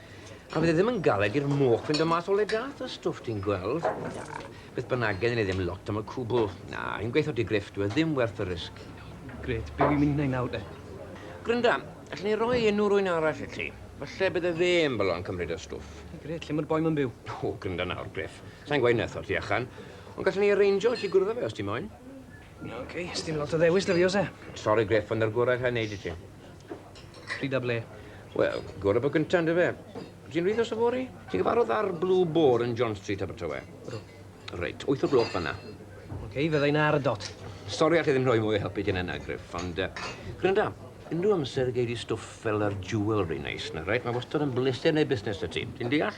A fydd e ddim yn galed i'r moch fynd o mas o le gath y stwff ti'n gweld? Na, beth bynnag, gennym ni ddim lot am y cwbl. Na, un gweithio di griff, dyw e ddim werth y risg. Gret, be wi'n mynd wneud nawr de? Grynda, allwn ni roi enw rwy'n arall i ti. Falle bydde fe yn bolo yn cymryd y stwff. Gret, lle mae'r boi ma'n byw? O, grynda nawr, Griff. Sa'n gweud netho ti achan, ond gallwn ni arrangio i ti gwrdd â fe os ti moyn. Oce, sdim lot o ddewis da fi, os e? Sori, Griff, ond yr gorau allai wneud i ti. Pryd a ble? Wel, gorau bod gyntaf, yndyfe? Ti'n rhyddo sa fori? Ti'n gyfarfod ar Blue Boar yn John Street, Abertawe? Ydw. Reit, wyth o'r gloch fanna. Oce, okay, fydda i'n ar y dot. Sori allai ddim rhoi mwy o helpu ti na yna, Griff, ond... Uh, Grynda, unrhyw amser y gei di stwff fel yr jewelry neis na, reit? Mae wastad yn bleser neu busnes y ti. Ti'n deall?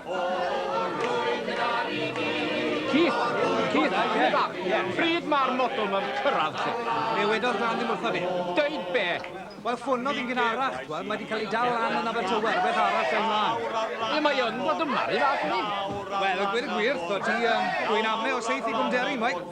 Keith, Keith, pryd mae'r model ma'n cyrraedd ti? Fe wedodd rhan ddim wrtho fi. Deud be? Wel, ffonodd fi'n gynharach, twad, mae wedi cael ei dal lan yn Abertawe, rhywbeth arall yn lan. Ie, mae yn bod yma, rhyw fath ni. Wel, a gweud y gwir, twad, ti, um, dwi'n ame o seith i gwmderi, mwy.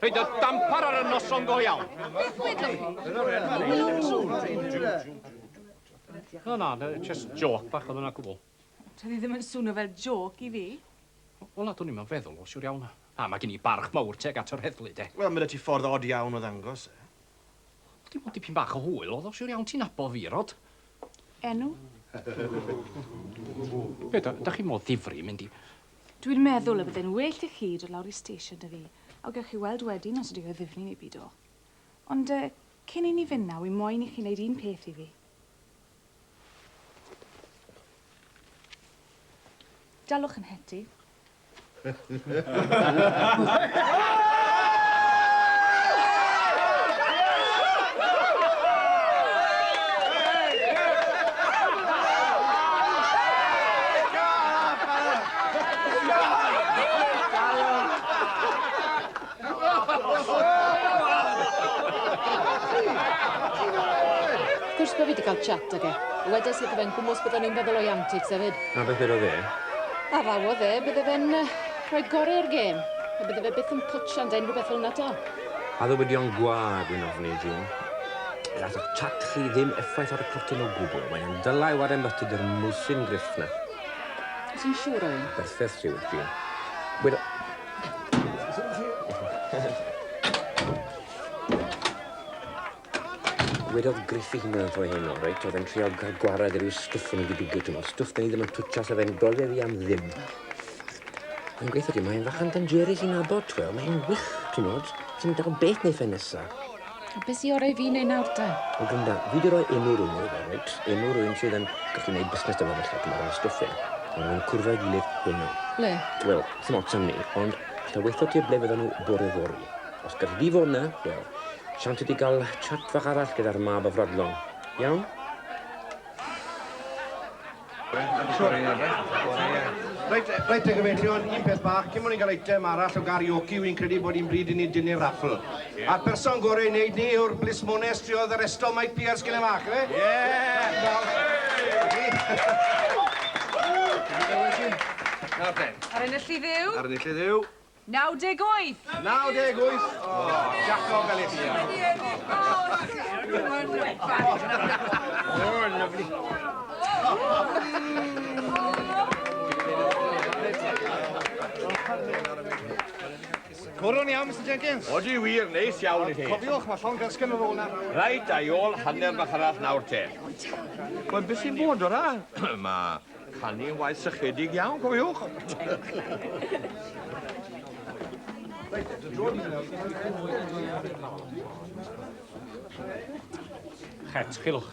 Rhaid y dampar ar y noson go iawn. Beth wedwch chi? No, na, just joc bach oedd yna gwbl. Doedd hi ddim yn swnio fel joc i fi. Wel, na, dwn i'm yn feddwl o, siwr iawn. Na, mae gen i barch mawr teg at yr heddlu, de. Wel, mae 'da ti ffordd od iawn o ddangos e. Dim ond dipyn bach o hwyl oedd o, siwr iawn, ti'n abo fi, Rod. Enw? Be, da, da chi mor ddifri mynd i... Dwi'n meddwl y bydde'n well i chi dod lawr i station 'da fi, a gewch chi weld wedyn os ydy o ddifni neu bido. Ond yy, cyn i ni fynd 'na, wi moyn i chi neud un peth i fi. Dalwch 'yn het i. Wrth gwrs bo' fi 'di ca'l chat ag e. Wedes wrtho fe'n gwmws byddwn i'n feddwl o'i antics efyd. A beth wedodd e? A ddawodd e, bydde fe'n yy rhoi gore i'r gêm, a bydde fe byth yn potsio ynde, unrhyw beth fel 'na 'to. A ddywydion gwag, wi'n ofni, June. Gallwch chat chi ddim effaith ar y cortyn o gwbwl, mae o'n dyla' i ware mythyg i'r mwsyn grufft 'na. Wyt ti'n siŵr o hyn? Perffaith ti wyt ti. Wel... Wedodd Griffith hynna yn fwy heno, reit? Oedd e'n trial cael gwared ar ryw stwff o'n i wedi bigio, ti'n gwybod, stwff da ni ddim yn twtio sef e'n brofiad fi am ddim. Mae'n gweithio ti, mae'n fach yn dangerous i nabod, ti'n gweld, mae'n wych, ti'n gwybod, ti'n dal beth neu fe nesa. A beth sy orau i fi wneud nawr te? Wel Glynda, fi wedi rhoi enw rhwng nhw, reit? Enw rhywun sydd yn gallu gwneud busnes dyma felly, dyma rhywun stwffio. Mae nhw'n cwrdd â'i gilydd heno. Ble? Wel, sy'n ots am ni, ond allai weithio ti ble fyddan nhw bore fory. Os galli di fod na, wel, siant i ti gael chat fach arall gyda'r mab afradlon. Iawn? Reit, reit te gyfeillion, un peth bach, cyn bod ni'n cael eitem arall o garioci, wi'n credu bod hi'n bryd i ni dynnu'r raffl. A'r person gorau i wneud ni yw'r blismone striodd yr estol Mike Pierce cyn y fach, ife? Nawr te. Ar enillydd yw? Ar enillydd yw? 98! 98! Jacko Galicia. Oh, lovely. Cwrwn iawn, Mr Jenkins. O, di wir, neis iawn i chi. Cofiwch, mae llon gasgen ar ôl na. Rhaid, a'i ôl hanner bach arall nawr te. Wel, beth sy'n bod o'r a? Mae Canu waith sychedig iawn, cofiwch! Het, chilwch.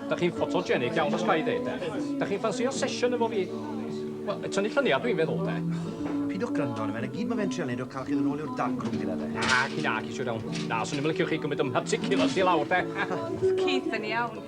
Da chi'n ffotogenic iawn os ga i ddeud, de. Da chi'n ffansio sesiwn efo fi? Wel, y tynnu lluniau dwi'n feddwl, de. Pidwch gwrando arno fe, na gyd mae fe'n trio neud o cael chi ddod nôl i'r darkroom gyda fe. Na, ci na, ci siwr iawn. Na, swn i'm yn licio chi gymryd ym mharticulars i lawr, de. Oedd Keith yn iawn.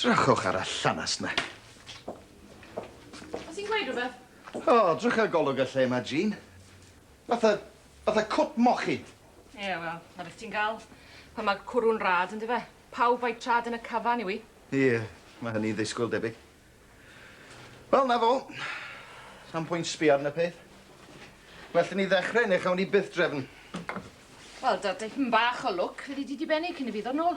Drychwch ar y llanast na. Oes ti'n gweud rhywbeth? O, drycha golwg y lle yma, Jean. Fatha, fatha cwt mochyn. Ie, wel, 'na beth ti'n ga'l pan ma' cwrw'n rad, yndyfe? Pawb a'i trad yn y cyfan, yw 'i? Ie, ma' hynny'n ddisgwyl debyg. Wel, 'na fo. Sa'm pwynt sbio arno peth. Well i ni ddechre ne' chawn ni byth drefn. Wel, da tipyn bach o lwc, fyddi di dibenni cyn i fi ddod nôl.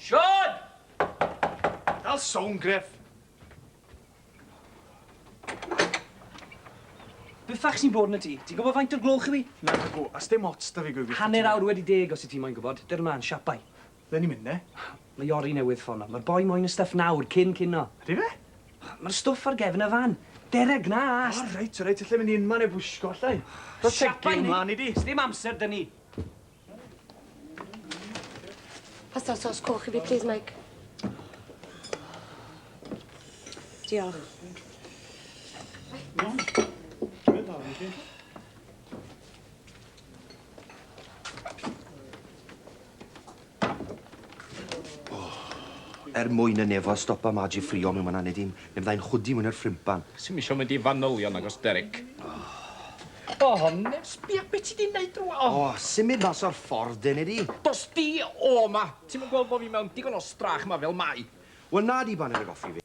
Siân! Dal sownd, Griff. Be ffach sy'n bod yn y tŷ? Ti'n gwybod faint o'r gloch yw 'i? Nagw, a sdim ots 'da fi gwybyth. Hanner awr wedi deg os wyt ti moyn gwybod. Dyrn mlan, siapai. Ble ni'n mynd 'ne? Mae Iori newydd ffono. Mae'r boi moyn y stwff nawr, cyn cino. Ydy fe? Mae'r stwff ar gefn y fan. Dereg, na ast! O reit, o reit, allai mynd i unman heb wisgo, allai? Siapai ni! Sdim amser 'da ni. Pasta sos coch i fi, please, Mike. Diolch. er mwyn y nefo a stopa Madge i ffrio mewn man aned i'm, neu fyddai'n chwdi mwyn ar ffrimpan. Sy'n misio mynd i fanylion agos Derek. Oh. O, Ned, sbia be' ti 'di neud rŵan. O, symud mas o'r ffordd, dene di. Dos di o 'ma! Ti'm yn gweld bo' fi mewn digon o strach 'ma fel mai? Wel, na di, baned a goffi fi.